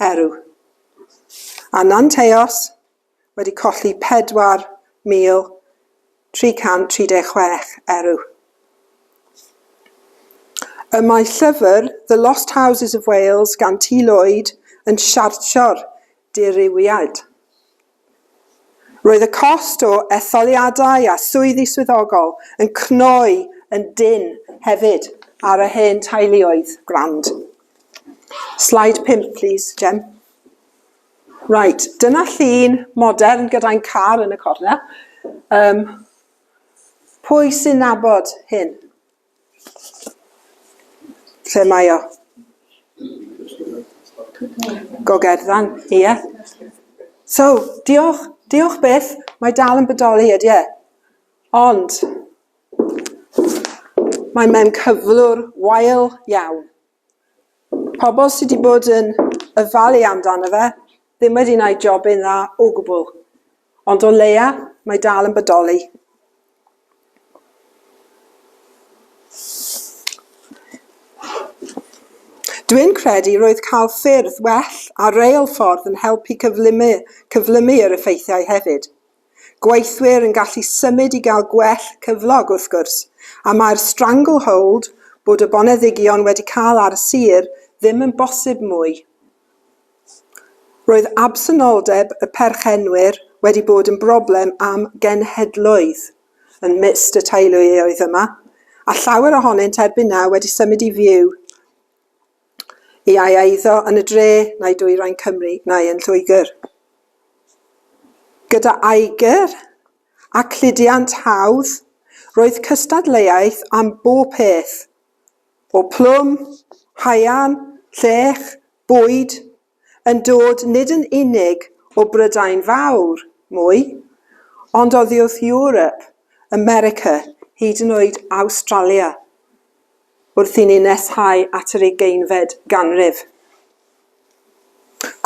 Eru. Ananteos wedi colli 4,336 eru. Y mae llyfr The Lost Houses of Wales gan T. Lloyd yn siartio'r dirywiad. Roedd y cost o etholiadau a swyddi swyddogol yn cnoi yn dynn hefyd ar y hen teuluoedd grand. Slide 5, please, Jem. Right, dyna llun modern gyda'n car yn y cornel. Um, pwy sy'n nabod hyn? Lle mae o? Gogerddan, ie. So, diolch, diolch byth, mae dal yn bodoli, ydy e? Ond, mae mewn cyflwr wael iawn. Pobl sy 'di bod yn ofalu amdano fe ddim wedi wneud jobyn dda o gwbl, ond o leia mae dal yn bodoli. Dwi'n credu roedd cael ffyrdd well a reilffordd yn helpu cyflymu, cyflymu yr effeithiau hefyd. gweithwyr yn gallu symud i gael gwell cyflog wrth gwrs, a mae'r stranglehold, bod y boneddigion wedi cael ar y sir, ddim yn bosib mwy. Roedd absenoldeb y perchenwyr wedi bod yn broblem am genhedloedd yn myst y teuluoedd yma, a llawer ohonynt erbyn nawr wedi symud i fyw Y iau a eiddo yn y dre, neu dwyrain Cymru, neu yn Lloegr. Gyda aegr a cludiant hawdd, roedd cystadleuaeth am bob peth, o plwm, haearn, llech, bwyd, yn dod nid yn unig o Brydain Fawr, mwy, ond oddiwrth Ewrop, America, hyd yn oed Awstralia, wrth i ni nesau at yr ugeinfed ganrif.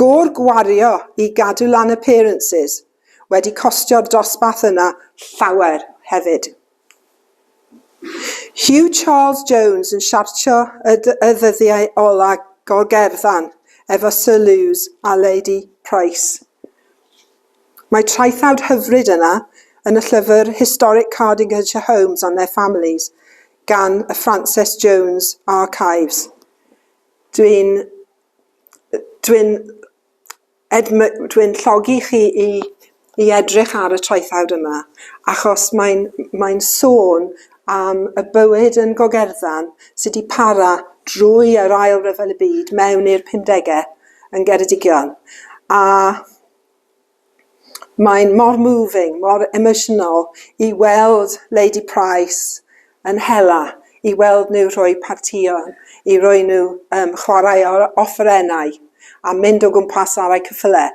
Gôr gwario i gadw lan appearances wedi costio'r dosbarth yna llawer hefyd. Huw Charles Jones yn siartio y ddyddiau ola o gerddon efo Sir Lewis a Lady Price. Mae traethawd hyfryd yna yn y llyfr Historic Cardingtonshire Homes and their Families gan y Frances Jones Archives. Dwi'n... dwi'n... Ed, m- dwi'n llogi chi i i edrych ar y traethawd yma, achos mae'n mae'n sôn am y bywyd yn Gogerdddan sy 'di para drwy yr Ail Ryfel y Byd mewn i'r pumdege yn Geredigion, a mae'n mor moving, mor emosiynol i weld Lady Price yn hela i weld nhw rhoi partïon, i roi nhw yym chwarae o- offerennau a mynd o gwmpas ar eu cyffyle,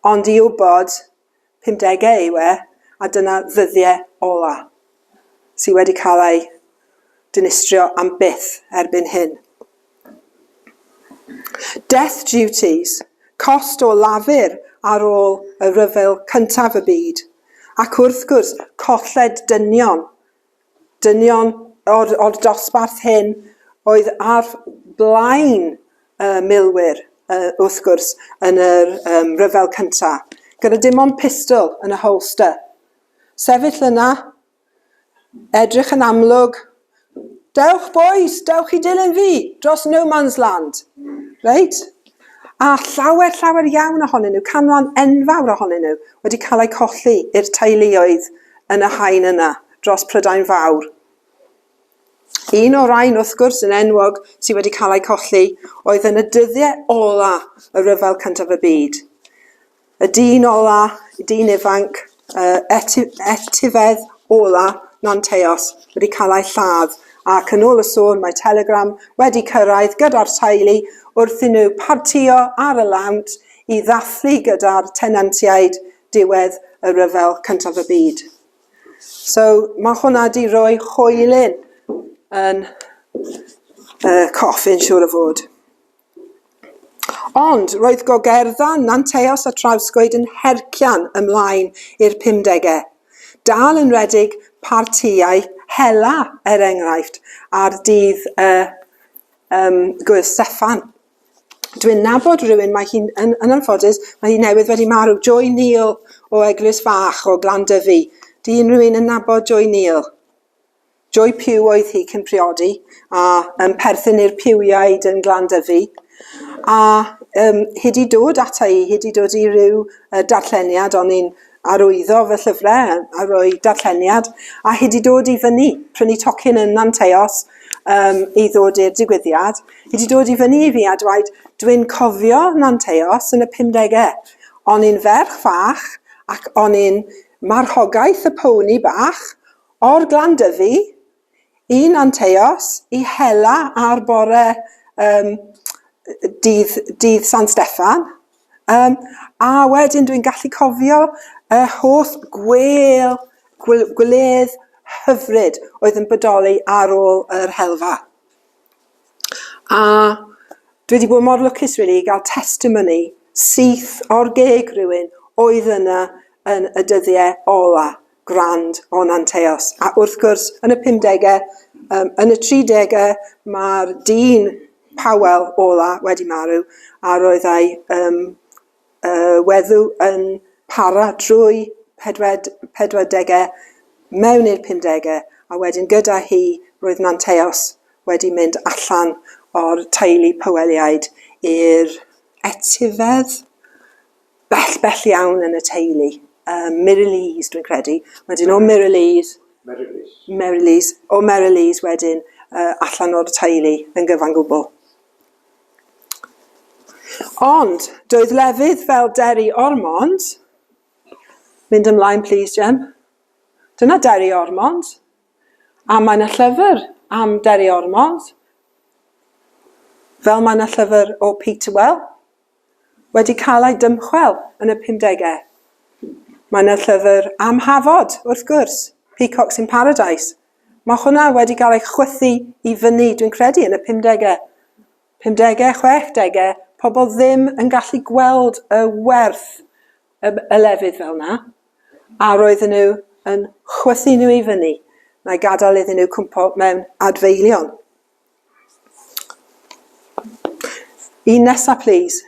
ond i wybod, pumdege yw e, a dyna ddyddie ola sy wedi cael eu dinistrio am byth erbyn hyn. Death duties, cost o lafur ar ôl y rhyfel cyntaf y byd, ac wrth gwrs colled dynion dynion o'r o'r dosbarth hyn oedd ar flaen y milwyr yy wrth gwrs yn yr yym rhyfel cynta, gyda dim ond pistol yn y holster. Sefyll yna, edrych yn amlwg, dewch bois, dewch i dilyn fi dros no man's land, reit? A llawer, llawer iawn ohonyn nhw, canran enfawr ohonyn nhw, wedi cael eu colli i'r teuluoedd yn y haen yna, dros Prydain Fawr. Un o'r rhain, wrth gwrs, yn enwog sydd wedi cael eu colli oedd yn y dyddiau ola y rhyfel cyntaf y byd. Y dyn ola, y dyn ifanc, yr eti- etifedd ola, Nanteos, wedi cael ei lladd, ac yn ôl y sôn mae telegram wedi cyrraedd gyda'r teulu wrth i nhw partïo ar y lawnt i ddathlu gyda'r tenantiaid diwedd y Rhyfel Cyntaf y Byd. So mae hwnna wedi rhoi hoelyn yn y coffin siŵr o fod. Ond roedd gogerddau Nant Eos a Trawscoed yn hercian ymlaen i'r pumdegau. Dal yn rhedeg partïau hela, er enghraifft, ar dydd y um, Gwyl Steffan. Dwi'n nabod rhywun, mae hi'n, yn, yn anffodus, mae hi newydd wedi marw, Joy Neal o Eglwys Fach o Glandyfi. Di unrhyw un yn nabod Joy Neal? Joy Pugh oedd hi cyn priodi, a um, perthyn i'r Piwiaid yn Glandyfu. A um, hi wedi dod ata i, hi wedi dod i ryw uh, darlleniad, o'n i'n arwyddo fy llyfrau a roi darlleniad, a hi wedi dod i fyny, prynu tocyn yn Nanteos um, i ddod i'r digwyddiad. Hi wedi dod i fyny i fi a dweud, dwi'n cofio Nanteos yn y 50au. O'n i'n ferch fach ac o'n i'n marchogaeth y pony bach, O'r Glanddyfi i Nanteos, i Hela ar bore yym dydd dydd San Steffan. Yym a wedyn dwi'n gallu cofio y holl gwêl gw- gwledd hyfryd oedd yn bodoli ar ôl yr helfa. A dwi 'di bod mor lwcus rili i ga'l testimony syth o'r geg rywun oedd yna yn y dyddie ola. grand o Nanteos. A wrth gwrs, yn y 50au, um, yn y 30au, mae'r dyn Powell ola wedi marw, a roedd ei um, uh, wedw yn para drwy 40au mewn i'r 50au, a wedyn gyda hi roedd Nanteos wedi mynd allan o'r teulu Powelliaid i'r etifedd, bell, bell iawn yn y teulu. Um, Mirylise, dwi'n credu. Wedyn o Mirylise... Merylise. Merylise. O Merylise wedyn uh, allan o'r teulu yn gyfan gwbl. Ond, doedd lefydd fel Derry Ormond... Mynd ymlaen, please, Jem. Dyna Derry Ormond. A mae yna llyfr am Derry Ormond. Fel mae yna llyfr o Peter Well. wedi cael ei dymchwel yn y pumdegau. Mae yna llyfr am Hafod, wrth gwrs, Peacocks in Paradise. Mae hwnna wedi cael ei chwythu i fyny, dwi'n credu, yn y pumdegau. Pumdegau, chwechdegau, pobl ddim yn gallu gweld y werth y, y lefydd fel yna, a roedden nhw yn chwythu nhw i fyny, na'i gadael iddyn nhw cwmpo mewn adfeilion. Un nesa plîs.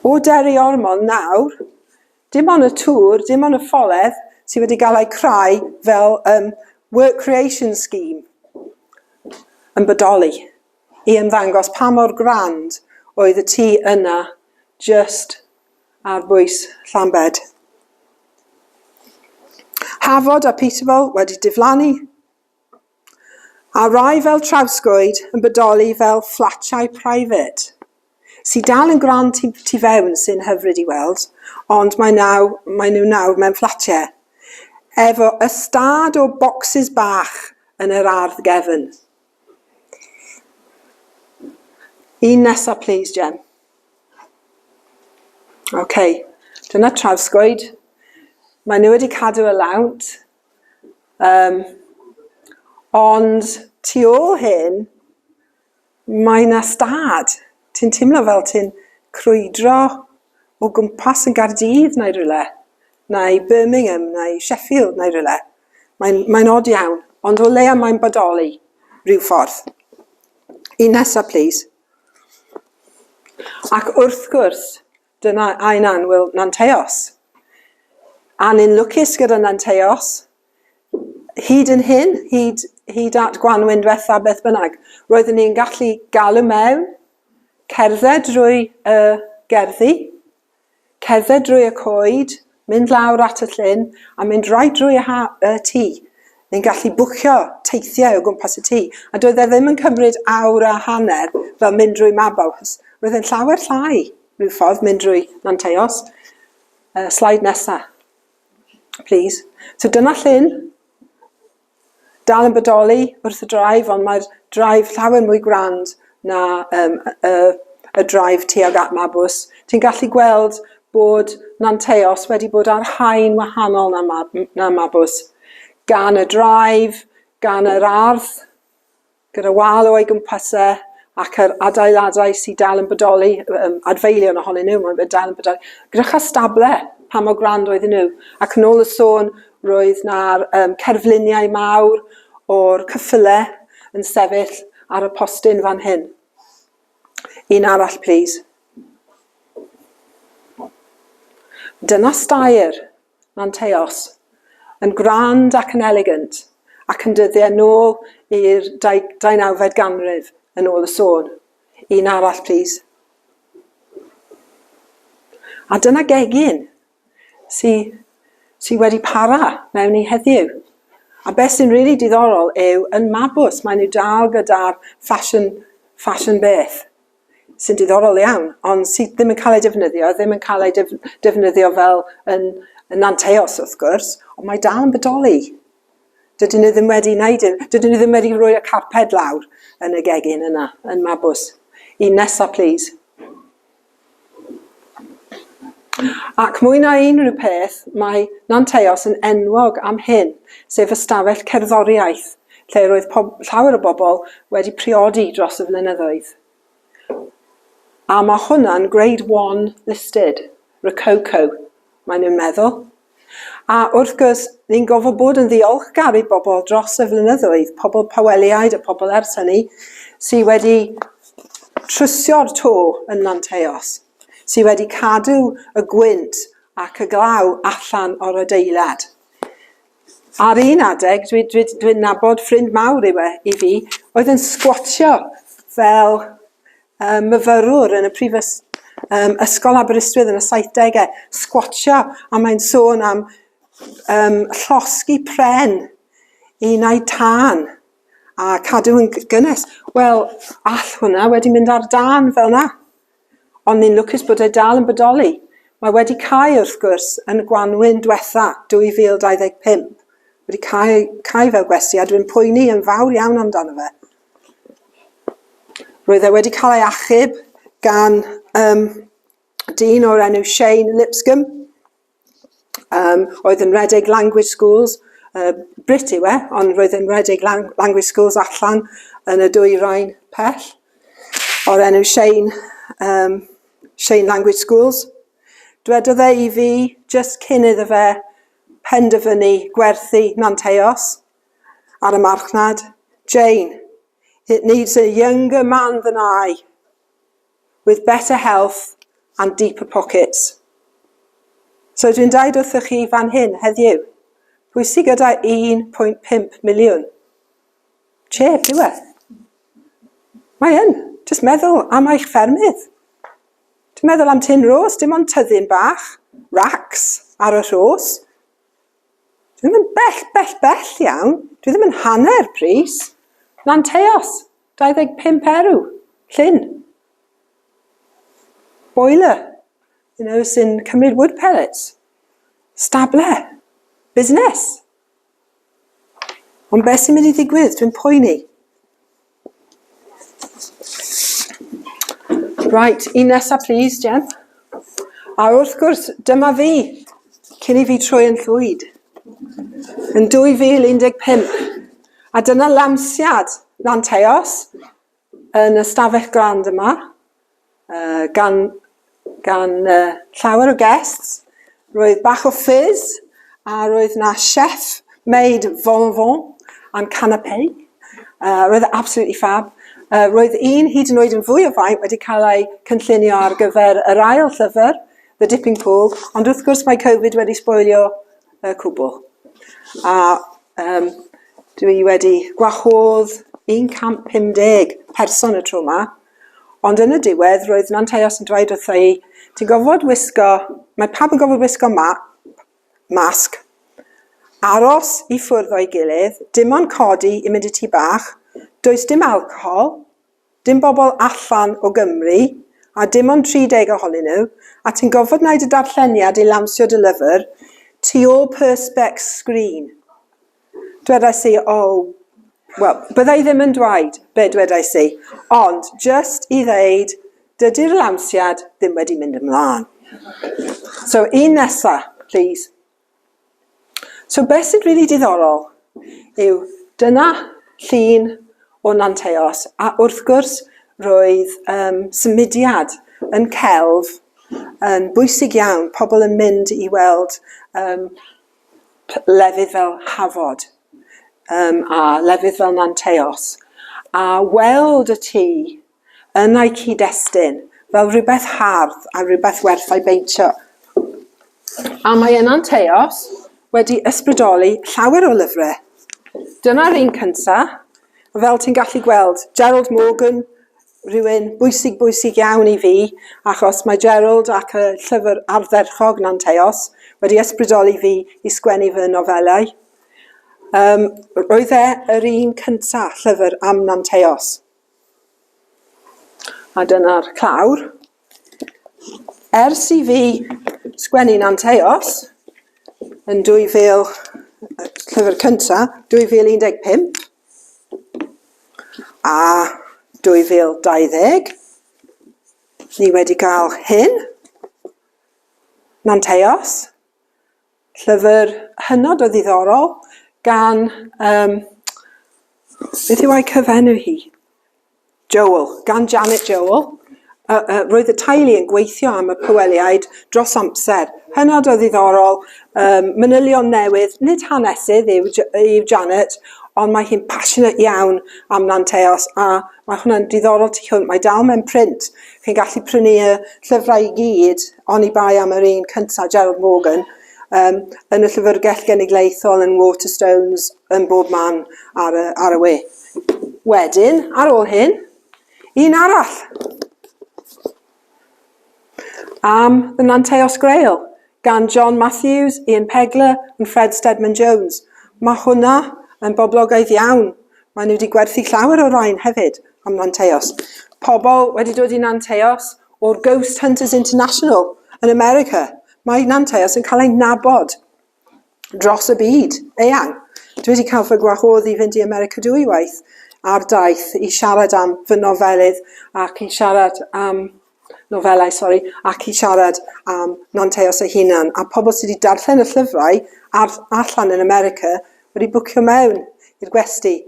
O Derry Ormond nawr, dim ond y tŵr, dim ond y ffolledd sy wedi gael eu creu fel yym work creation scheme yn bodoli i ymddangos pa mor grand oedd y tŷ yna jyst ar bwys Llambed. Hafod a Peterborough wedi diflannu. a rai fel trawsgwyd yn bodoli fel fflatiau private sy dal yn grand tu, tu fewn sy'n hyfryd i weld ond mae naw, mae nhw nawr mewn fflatiau efo ystâd o bocsys bach yn yr ardd gefn. Un nesa plis Jem. Ok, dyna trawsgwyd. Mae nhw wedi cadw y lawnt. Yym, ond tu ôl hyn, mae 'na stad. Ti'n teimlo fel ti'n crwydro o gwmpas yn Gaerdydd neu rywle, neu Birmingham neu Sheffield neu rywle. Mae'n mae'n od iawn, ond o leia mae'n bodoli ryw ffordd. Un nesa plîs. Ac wrth gwrs, Dyna ein annwyl Nanteos. A ni'n lwcus gyda Nanteos, hyd yn hyn, hyd, hyd at gwanwyn diwetha beth bynnag, roeddwn ni'n gallu galw mewn, cerdded drwy y gerddi, cerdded drwy y coed, Mynd lawr at y llyn a mynd right drwy y ha- y tŷ. Ni'n gallu bwcio teithiau o gwmpas y tŷ. A doedd e ddim yn cymryd awr a hanner fel mynd drwy Mabau, achos roedd e'n llawer llai rhyw ffordd mynd drwy Nanteos. Uh, slide nesa. Please. So dyna llyn. dal yn bodoli wrth y drive, ond mae'r drive llawer mwy grand na um, y, y drive tuag at Mabws. Ti'n gallu gweld bod Nanteos wedi bod ar haen wahanol na, mab, na Mabws. Gan y drive, gan yr ardd, gyda wal o'i gwmpas e, ac yr adeiladau sydd dal yn bodoli, um, adfeilion ohonyn nhw, mae'n dal yn bodoli, gyda chastable, pa mor grand oedden nhw. Ac yn ôl y sôn, roedd na'r um, cerfluniau mawr o'r cyffyle yn sefyll ar y postyn fan hyn. Un arall, please. Dyna stair. Manteos, yn grand ac yn elegant, ac yn dyddiau nôl i'r dau- deunawfed ganrif, yn ôl y sôn. Un arall, plis. A dyna gegin sy, sy wedi para mewn i heddiw. A beth sy'n rili really diddorol yw, yn Mabws, maen nhw dal gyda'r fashion, fashion beth. sy'n diddorol iawn, ond sydd ddim yn cael ei defnyddio, ddim yn cael ei def defnyddio fel yn, yn anteos wrth gwrs, ond mae dal yn bodoli. Dydyn nhw ddim wedi wneud hyn, dydyn nhw ddim wedi rhoi y carped lawr yn y gegin yna, yn Mabws. Un nesa, please. Ac mwy na unrhyw peth, mae Nanteos yn enwog am hyn, sef ystafell cerddoriaeth lle roedd pob- llawer o bobl wedi priodi dros y flynyddoedd. A mae hwnna'n Grade One listed, Rococo, maen nhw'n meddwl. A wrth gwrs, ni'n gorfod bod yn ddiolchgar i bobl dros y flynyddoedd, pobl Paweliaid a pobl ers hynny, sydd wedi trysio'r to yn Manteos, sydd wedi cadw y gwynt ac y glaw allan o'r adeilad. Ar un adeg, dwi'n dwi, dwi nabod ffrind mawr yw e i fi, oedd yn sgwatio fel um, myfyrwr yn y prif um, ysgol Aberystwyth yn y 70au, sgwatio, a mae'n sôn am um, llosgi pren i naid tân a cadw yn gynnes. Wel, all hwnna wedi mynd ar dan fel yna. Ond ni'n lwcus bod e dal yn bodoli. Mae wedi cael, wrth gwrs, yn y gwanwyn diwetha 2025, wedi cael, cael fel gwesti, a dwi'n poeni yn fawr iawn amdano fe. Roedd e wedi cael ei achub gan um, dyn o'r enw Shane Lipscomb, um, oedd yn redeg Language Schools, uh, Brit yw e, ond roedd yn redeg lang Language Schools allan yn y dwy rhain pell, o'r enw Shane, um, Shane Language Schools. Dwedodd e i fi, just cyn iddo fe penderfynu gwerthu Nanteos, Ar y marchnad, Jane, It needs a younger man than I, with better health and deeper pockets. So dwi'n dweud wrthych chi fan hyn heddiw, pwy sydd gyda 1.5 miliwn? Chef, yw e? Mae yn. Just meddwl am eich ffermydd. Dwi'n meddwl am Tin Rose, dim ond tyddyn bach, racks ar y rhos. Dwi ddim yn bell, bell, bell iawn. Dwi ddim yn hanner pris. Lanteos, 25 erw. Llyn. Boiler. You know, sy'n cymryd wood pellets. Stable. Busnes. Ond beth sy'n mynd i ddigwydd? Dwi'n poeni. Right, un nesa please, Jen. A wrth gwrs, dyma fi, cyn i fi troi yn llwyd, yn 2015. A dyna lansiad Lanteos yn y stafell grand yma. uh, gan, gan uh, llawer o guests. Roedd bach o fizz, a roedd na chef made von von am canapé. Uh, roedd e absolutely fab. Uh, roedd un hyd yn oed yn fwy o faint wedi cael ei cynllunio ar gyfer yr ail llyfr, The Dipping Pool, ond wrth gwrs mae Covid wedi sboilio y uh, cwbl. A um, dwi wedi gwahodd 150 person y tro yma, Ond yn y diwedd, roedd Nanteos yn dweud wrtha i, ti'n gofod wisgo, mae pawb yn gofod wisgo map, masg, aros i ffwrdd o'i gilydd, dim ond codi i mynd i tŷ bach, does dim alcohol, dim bobl allan o Gymru, a dim ond 30 ohonyn nhw, a ti'n gofod wneud y darlleniad i lawnsio dy lyfr tu ôl perspex screen. Dwedais i, oh, wel, bydda i ddim yn dweud be dwedais i, ond just i ddeud, dydy'r lansiad ddim wedi mynd ymlaen. So, un nesa, please. So, beth sy'n rili really diddorol yw dyna llun o Nanteos, a wrth gwrs, roedd um, symudiad yn celf yn bwysig iawn, pobl yn mynd i weld um, lefydd fel Hafod um, a lefydd fel Nanteos, a weld y tŷ yn ei cyd-destun fel rhywbeth hardd a rhywbeth werth ei beintio. A mae yna'n teos wedi ysbrydoli llawer o lyfrau. Dyna'r un cyntaf, fel ti'n gallu gweld, Gerald Morgan, rhywun bwysig bwysig iawn i fi achos mae Gerald ac y llyfr ardderchog Nanteos wedi ysbrydoli fi i sgwennu fy nofelau. Um, roedd e yr un cynta llyfr am Nanteos. A dyna'r clawr. Ers i fi sgwennu Nanteos yn 2000, llyfr cynta, 2015, A 2020, ni wedi cael hyn. Manteos. Llyfr hynod o ddiddorol gan yym beth yw a'i cyfenw hi? Joel. Gan Janet Joel, y, y, roedd y teulu yn gweithio am y Pyweliaid dros amser. Hynod o ddiddorol, um, manylion newydd, nid hanesydd yw, yw Janet, ond mae hi'n passionate iawn am Nanteos a mae hwnna'n diddorol tu hwnt. Mae dal mewn print. Chi'n gallu prynu y llyfrau i gyd, ond i bai am yr un cyntaf, Gerald Morgan, um, yn y llyfrgell genedlaethol yn Waterstones yn bob man ar y, ar y we. Wedyn, ar ôl hyn, un arall. Am The Nanteos Grail, gan John Matthews, Ian Pegler and Fred Steadman Jones. Mae hwnna yn boblogaidd iawn. Mae nhw wedi gwerthu llawer o rain hefyd am Nanteos. Pobl wedi dod i Nanteos o'r Ghost Hunters International yn America. Mae Nanteos yn cael ei nabod dros y byd eang. Dwi wedi cael fy gwahodd i fynd i America dwywaith ar daith i siarad am fy nofelydd ac i siarad am nofelau, sori, ac i siarad am Nanteos ei hunan. A pobl sydd wedi darllen y llyfrau ar, allan yn America wedi bwcio mewn i'r gwesti,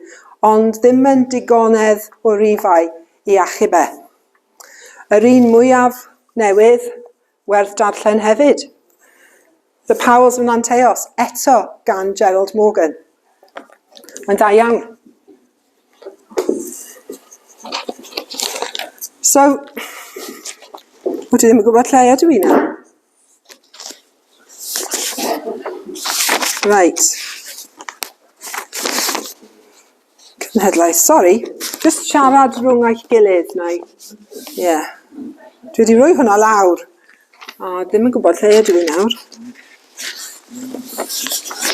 ond ddim yn digonedd o rifau i achub e. Yr un mwyaf newydd Werth darllen hefyd, The Powells of Nanteos, eto gan Gerald Morgan. Mae'n dda iawn. So, wyt ti ddim yn gwybod lle ydw i nawr? Right. Cenhedlaeth, sori, jyst siarad rhwng eich gilydd neu... Ie. Dwi 'di rhoi hwnna lawr, a ddim yn gwbod lle ydw i nawr.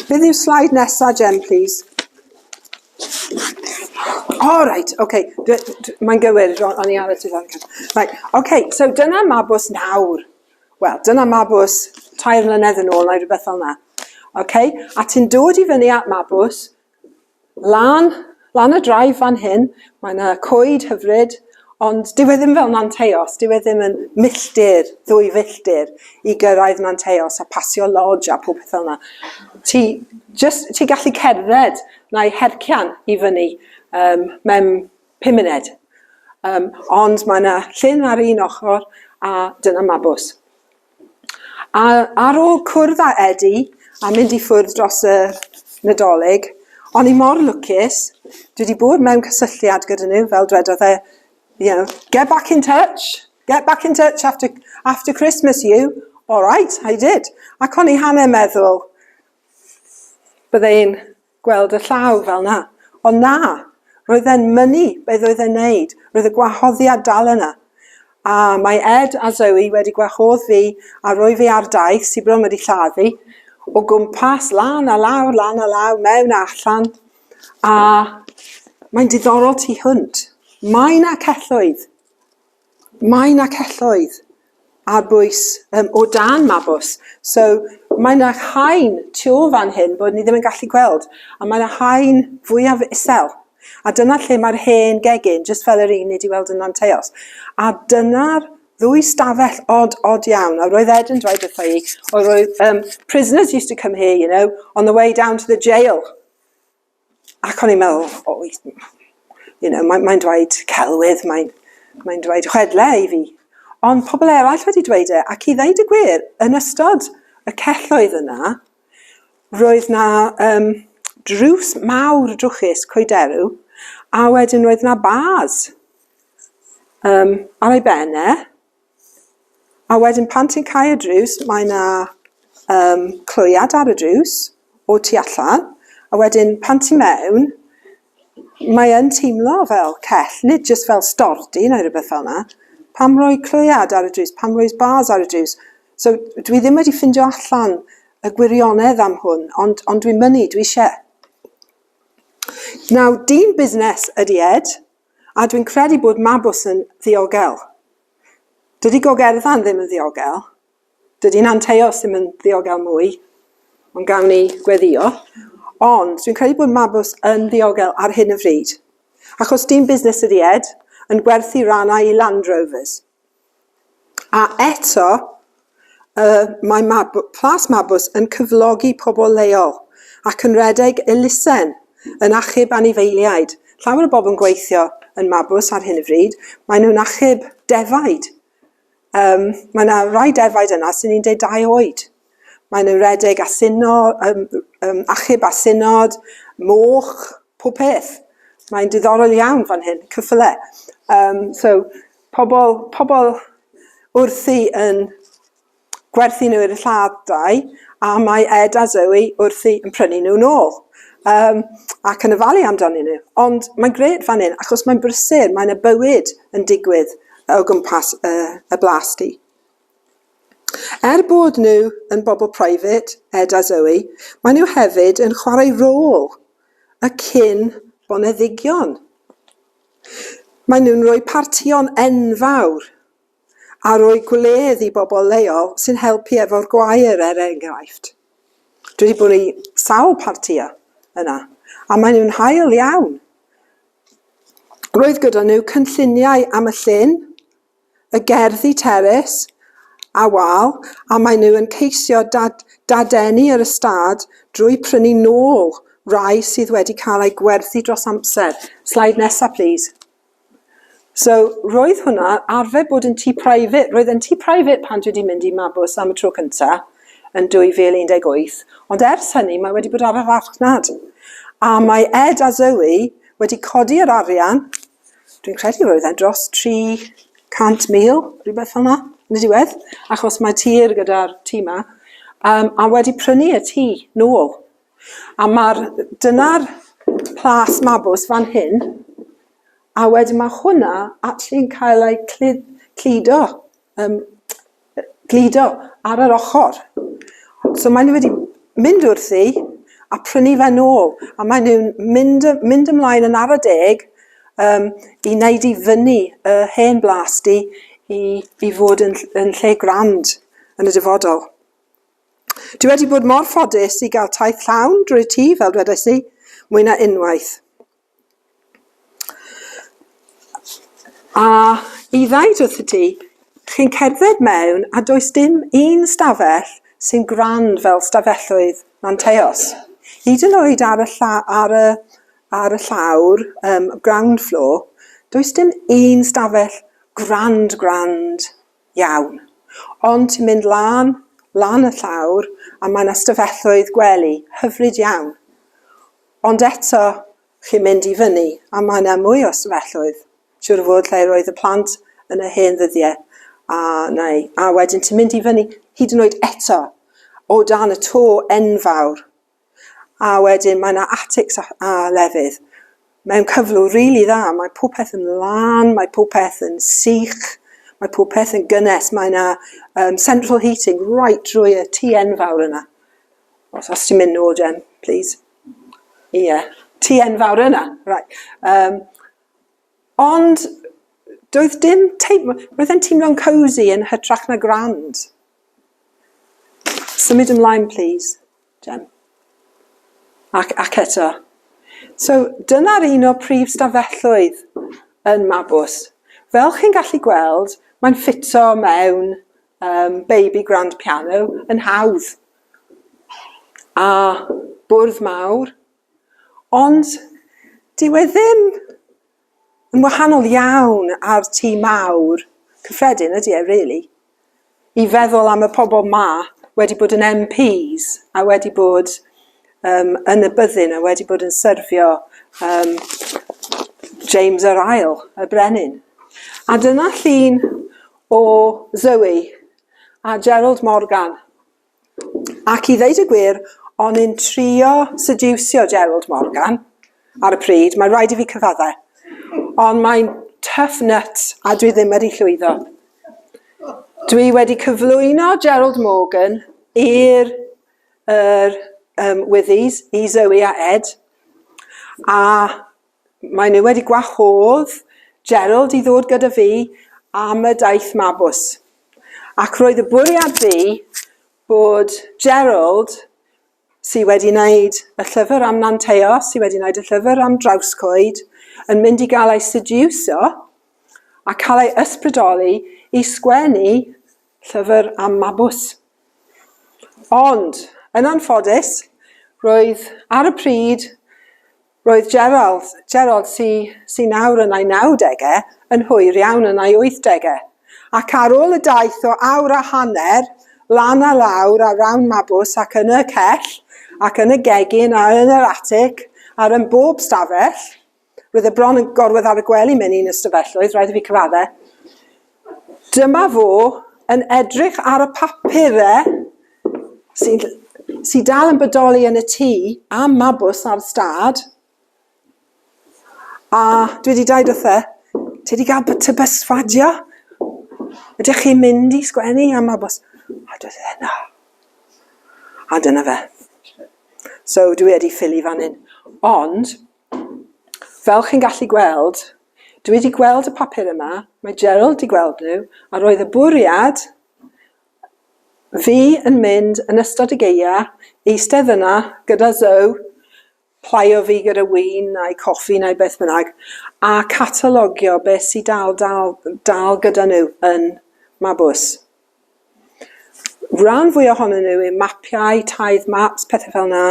Beth yw'r sleid nesa, Jen, plîs? O reit, oce, dw- dw- mae'n gywir, ro- o'n i ar y tudalen cynta'. Reit, oce, so dyna Mabws nawr. Wel, dyna Mabws tair mlynedd yn ôl neu rywbeth fel 'na. Oce? A ti'n dod i fyny at Mabws, Lan, lan y drive fan hyn, mae 'na coed hyfryd, ond dyw e ddim fel Nanteos, dyw e ddim yn milltir, ddwy filltir i gyrraedd Nanteos a pasio lodge a popeth fel 'na. Ti jyst, ti'n gallu cerdded na'i hercian i fyny um, mewn pum munud. Um, ond mae 'na llyn ar un ochr a dyna mabws. A ar ôl cwrdd â Edi a mynd i ffwrdd dros y Nadolig, o'n i mor lwcus, dwi wedi bod mewn cysylltiad gyda nhw, fel dwedodd e, you know, get back in touch, get back in touch after, after Christmas you, all right, I did. Ac o'n i hanner meddwl, bydde i'n gweld y llaw fel 'na. Ond na! Roedd e'n mynnu beth oedd e'n neud. Roedd y gwahoddiad dal yna. A mae Ed a Zoe wedi gwahodd fi a roi fi ar daith sy bron wedi lladd fi, o gwmpas, lan a lawr, lan a lawr, mewn a allan. A mae'n diddorol tu hwnt. Mae 'na celloedd. Mae 'na celloedd ar bwys yym o dan Mabws. So mae 'na haen tu ôl fan hyn bod ni ddim yn gallu gweld, a mae 'na haen fwyaf isel. A dyna lle mae'r hen gegin, jyst fel yr un ni 'di weld yn Nanteos. A dyna'r ddwy stafell od, od iawn. A roedd Ed yn dweud wrtha i, oedd roedd um, prisoners used to come here, you know, on the way down to the jail. Ac o'n i'n meddwl, o, you know, mae'n mae dweud celwydd, mae'n mae dweud chwedle i fi. Ond pobl eraill wedi dweud e, ac i ddeud y gwir, yn ystod y celloedd yna, roedd na um, drws mawr drwchus coederw, a wedyn roedd na bars um, ar ei benne, A wedyn pan ti'n cau y drws, mae 'na yym clwyad ar y drws o tu allan, a wedyn pan ti mewn, mae yn teimlo fel cell, nid jyst fel stordy neu rywbeth fel 'na. Pam roi clwyad ar y drws? Pam roi bars ar y drws? So dwi ddim wedi ffindio allan y gwirionedd am hwn, ond ond dwi'n mynnu, dwi isie. Nawr, dyn busnes ydy Ed. A dwi'n credu bod Mabws yn ddiogel. Dydy Gogerddan ddim yn ddiogel. Dydy Nanteos ddim yn ddiogel mwy. Ond gawn ni gweddio. Ond dwi'n credu bod Mabws yn ddiogel ar hyn y fryd. Achos dyn busnes ydi Ed, yn gwerthu rannau i Land Rovers. A eto, yy, mae Mab- Plas Mabws yn cyflogi pobl leol, ac yn redeg elusen yn achub anifeiliaid. Llawer o bobl yn gweithio yn Mabws ar hyn o fryd, maen nhw'n achub defaid. Yym, mae 'na rai defaid yna sy'n 12 oed. Mae'n nhw redeg a syno, um, um, achub a synod, moch, pob peth. Mae'n diddorol iawn fan hyn, cyffyle. Um, so, pobl, pobl wrthi yn gwerthu nhw i'r lladau, a mae Ed a Zoe wrthi yn prynu nhw nôl. Um, ac yn y falu amdano nhw. Ond mae'n gred fan hyn, achos mae'n brysur, mae'n y bywyd yn digwydd o gwmpas y, y blas di. Er bod nhw yn bobl private, Ed a Zoe, maen nhw hefyd yn chwarae rôl y cyn boneddigion. Maen nhw'n rhoi partïon enfawr a rhoi gwledd i bobl leol sy'n helpu efo'r gwair er enghraifft. Dwi wedi bod i sawl partïa yna a maen nhw'n hael iawn. Roedd gyda nhw cynlluniau am y llyn, y gerddi terys a wal a maen nhw yn ceisio dadeni yr ystâd drwy prynu nôl rai sydd wedi cael eu gwerthu dros amser. Slide nesa plîs. So, roedd hwnna, arfer bod yn tŷ private, roedd yn tŷ private pan dwi wedi mynd i Mabws am y tro cyntaf yn 2018, ond ers hynny mae wedi bod ar y farchnad. A mae Ed a Zoe wedi codi yr arian dwi'n credu roedd e dros 300,000, rhywbeth fel 'na, yn y diwedd, achos mae tir gyda'r tŷ 'ma, um, a wedi prynu y tŷ nôl. A mae'r, dyna'r plas mabws fan hyn, a wedyn mae hwnna actually'n cael ei cludo yym gludo ar yr ochr. So mae nhw wedi mynd wrthi a prynu fe nôl a mae nhw'n mynd, mynd ymlaen yn ara deg um, i wneud i fyny y hen blas di i, i fod yn, yn lle grand yn y dyfodol. Dwi wedi bod mor ffodus i gael taith llawn drwy tŷ, fel dwedais i, mwy na unwaith. A i ddaid wrth y tŷ, chi'n cerdded mewn a does dim un stafell sy'n grand fel stafelloedd Manteos. Hyd yn oed ar y lla- ar y ar y llawr, yym, ground floor, does dim un stafell grand grand iawn. Ond ti'n mynd lan, lan y llawr a mae 'na stafelloedd gwely hyfryd iawn. Ond eto, chi'n mynd i fyny, a mae 'na mwy o ystafelloedd, siŵr o fod, lle roedd y plant yn y hen ddyddiau, a neu, a wedyn ti'n mynd i fyny, hyd yn oed eto, o dan y to enfawr, a wedyn mae 'na atics a, a lefydd, mewn cyflwr rili dda, mae popeth yn lân, mae popeth yn sych, mae popeth yn gynnes, mae 'na um, central heating right drwy y tŷ enfawr yna. Os, os ti'n mynd nôl, Jen, please. Ie. Yeah. Ti enfawr yna. Right. Um, ond, doedd dim teimlo... Roedd e'n teimlo'n cozy yn hytrach na grand. Symud ymlaen, please, Jen. Ac, ac eto. So, dyna'r un o prif stafelloedd yn Mabws. Fel chi'n gallu gweld, mae'n ffito mewn um, baby grand piano yn hawdd. A bwrdd mawr. Ond dyw e ddim yn wahanol iawn ar tî mawr cyffredin, ydy e, really? I feddwl am y pobl ma wedi bod yn MPs a wedi bod um, yn y byddin a wedi bod yn syrfio um, James yr Ail, y Brenin. A dyna llun o Zoe a Gerald Morgan. Ac i ddeud y gwir, o'n i'n trio sediwsio Gerald Morgan ar y pryd, mae'n rhaid i fi cyfaddau. Ond mae'n tough nut a dwi ddim wedi llwyddo. Dwi wedi cyflwyno Gerald Morgan i'r er, um, Withies, i Zoe a Ed, a Mae nhw wedi gwahodd Gerald i ddod gyda fi am y daith mabws. Ac roedd y bwriad fi bod Gerald, sydd wedi wneud y llyfr am Nanteo, sydd wedi wneud y llyfr am Drawscoed, yn mynd i gael ei sediwsio a cael ei ysbrydoli i sgwennu llyfr am mabws. Ond, yn anffodus, roedd ar y pryd Roedd Gerald, Gerald sy, sy nawr yn ei nawdegau, yn hwyr iawn yn ei wythdegau. Ac ar ôl y daith o awr a hanner, lan a lawr a rawn Mabws ac yn y cell, ac yn y gegin a yn yr atig, ar yn bob stafell, roedd e bron yn gorwedd ar y gwely mewn un ystafelloedd, rhaid i fi cyfaddau. Dyma fo yn edrych ar y papur dde, sy sy dal yn bodoli yn y tŷ am mabws ar stad. A dwi wedi dweud wrthe, ti wedi cael tŷ bysfadio? Ydych chi'n mynd i sgwennu am mabws? A dweud wrthe, na. A dyna fe. So dwi wedi ffili fan hyn. Ond, Fel chi'n gallu gweld, dwi wedi gweld y papur yma, mae Gerald wedi gweld nhw, a roedd y bwriad fi yn mynd yn ystod y geia, eistedd yna gyda Zoe, plaio fi gyda win neu coffi neu beth bynnag, a catalogio beth sydd dal, dal, dal gyda nhw yn Mabws. Rhan fwya ohonyn nhw yw mapiau, tithe maps, pethe fel 'na,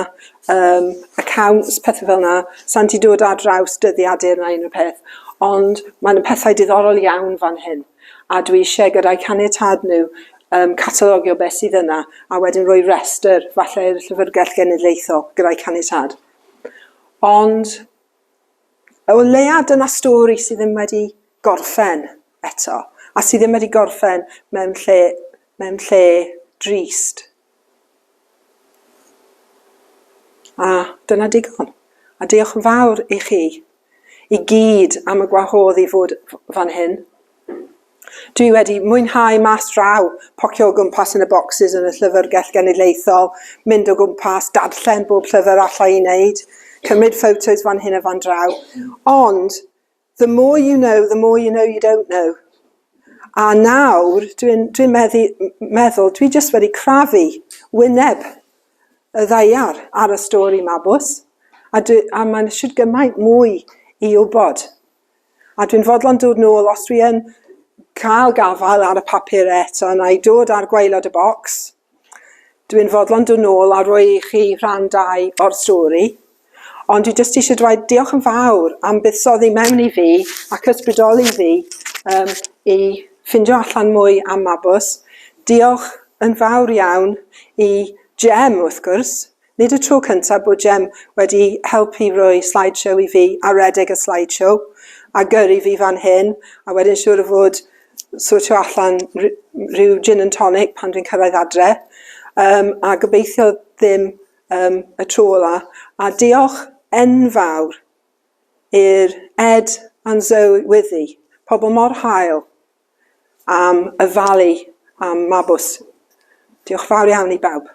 yym accounts, pethe fel 'na. Sa i'n 'di dod ar draws dyddiadur na unrhyw peth, ond ma' 'na pethau diddorol iawn fan hyn, a dwi isie gyda'u caniatâd nhw yym catalogio be' sydd yna, a wedyn rhoi restr, falle i'r Llyfyrgell Genedlaethol, gyda'u caniatâd. Ond o leia' dyna stori sydd ddim wedi gorffen eto, a sydd ddim wedi gorffen mewn lle, mewn lle drist. A dyna digon. A diolch yn fawr i chi i gyd am y gwahodd i fod fan hyn. Dwi wedi mwynhau mas draw, pocio o gwmpas yn y bocsys yn y Llyfrgell Genedlaethol, mynd o gwmpas, darllen bob llyfr alla i wneud, cymryd ffotos fan hyn a fan draw. Ond, the more you know, the more you know you don't know. A nawr, dwi'n dwi meddwl, dwi jyst wedi crafu wyneb y ddaiar ar y stori 'ma, bws. A, a mae'n siwr gymaint mwy i wybod. A dwi'n fodlon dod nôl os dwi yn cael gafael ar y papur eto na i dod ar gwaelod y bocs. Dwi'n fodlon dod nôl a rhoi i chi rhan dau o'r stori. Ond dwi jyst eisiau dweud diolch yn fawr am buddsoddi mewn i fi ac ysbrydoli fi um, i ffindio allan mwy am Mabws. Diolch yn fawr iawn i Jem, wrth gwrs, Nid y tro cyntaf bod Jem wedi helpu roi slide show i fi a redeg y slide show a gyrru fi fan hyn a wedyn siŵr o fod sortio allan rhyw gin and tonic pan dwi'n cyrraedd adre um, a gobeithio ddim um, y tro ola a diolch enfawr i'r Ed and Zoe Wyddi, pobl mor hael. am ofalu am Mabws. Diolch yn fawr iawn i bawb.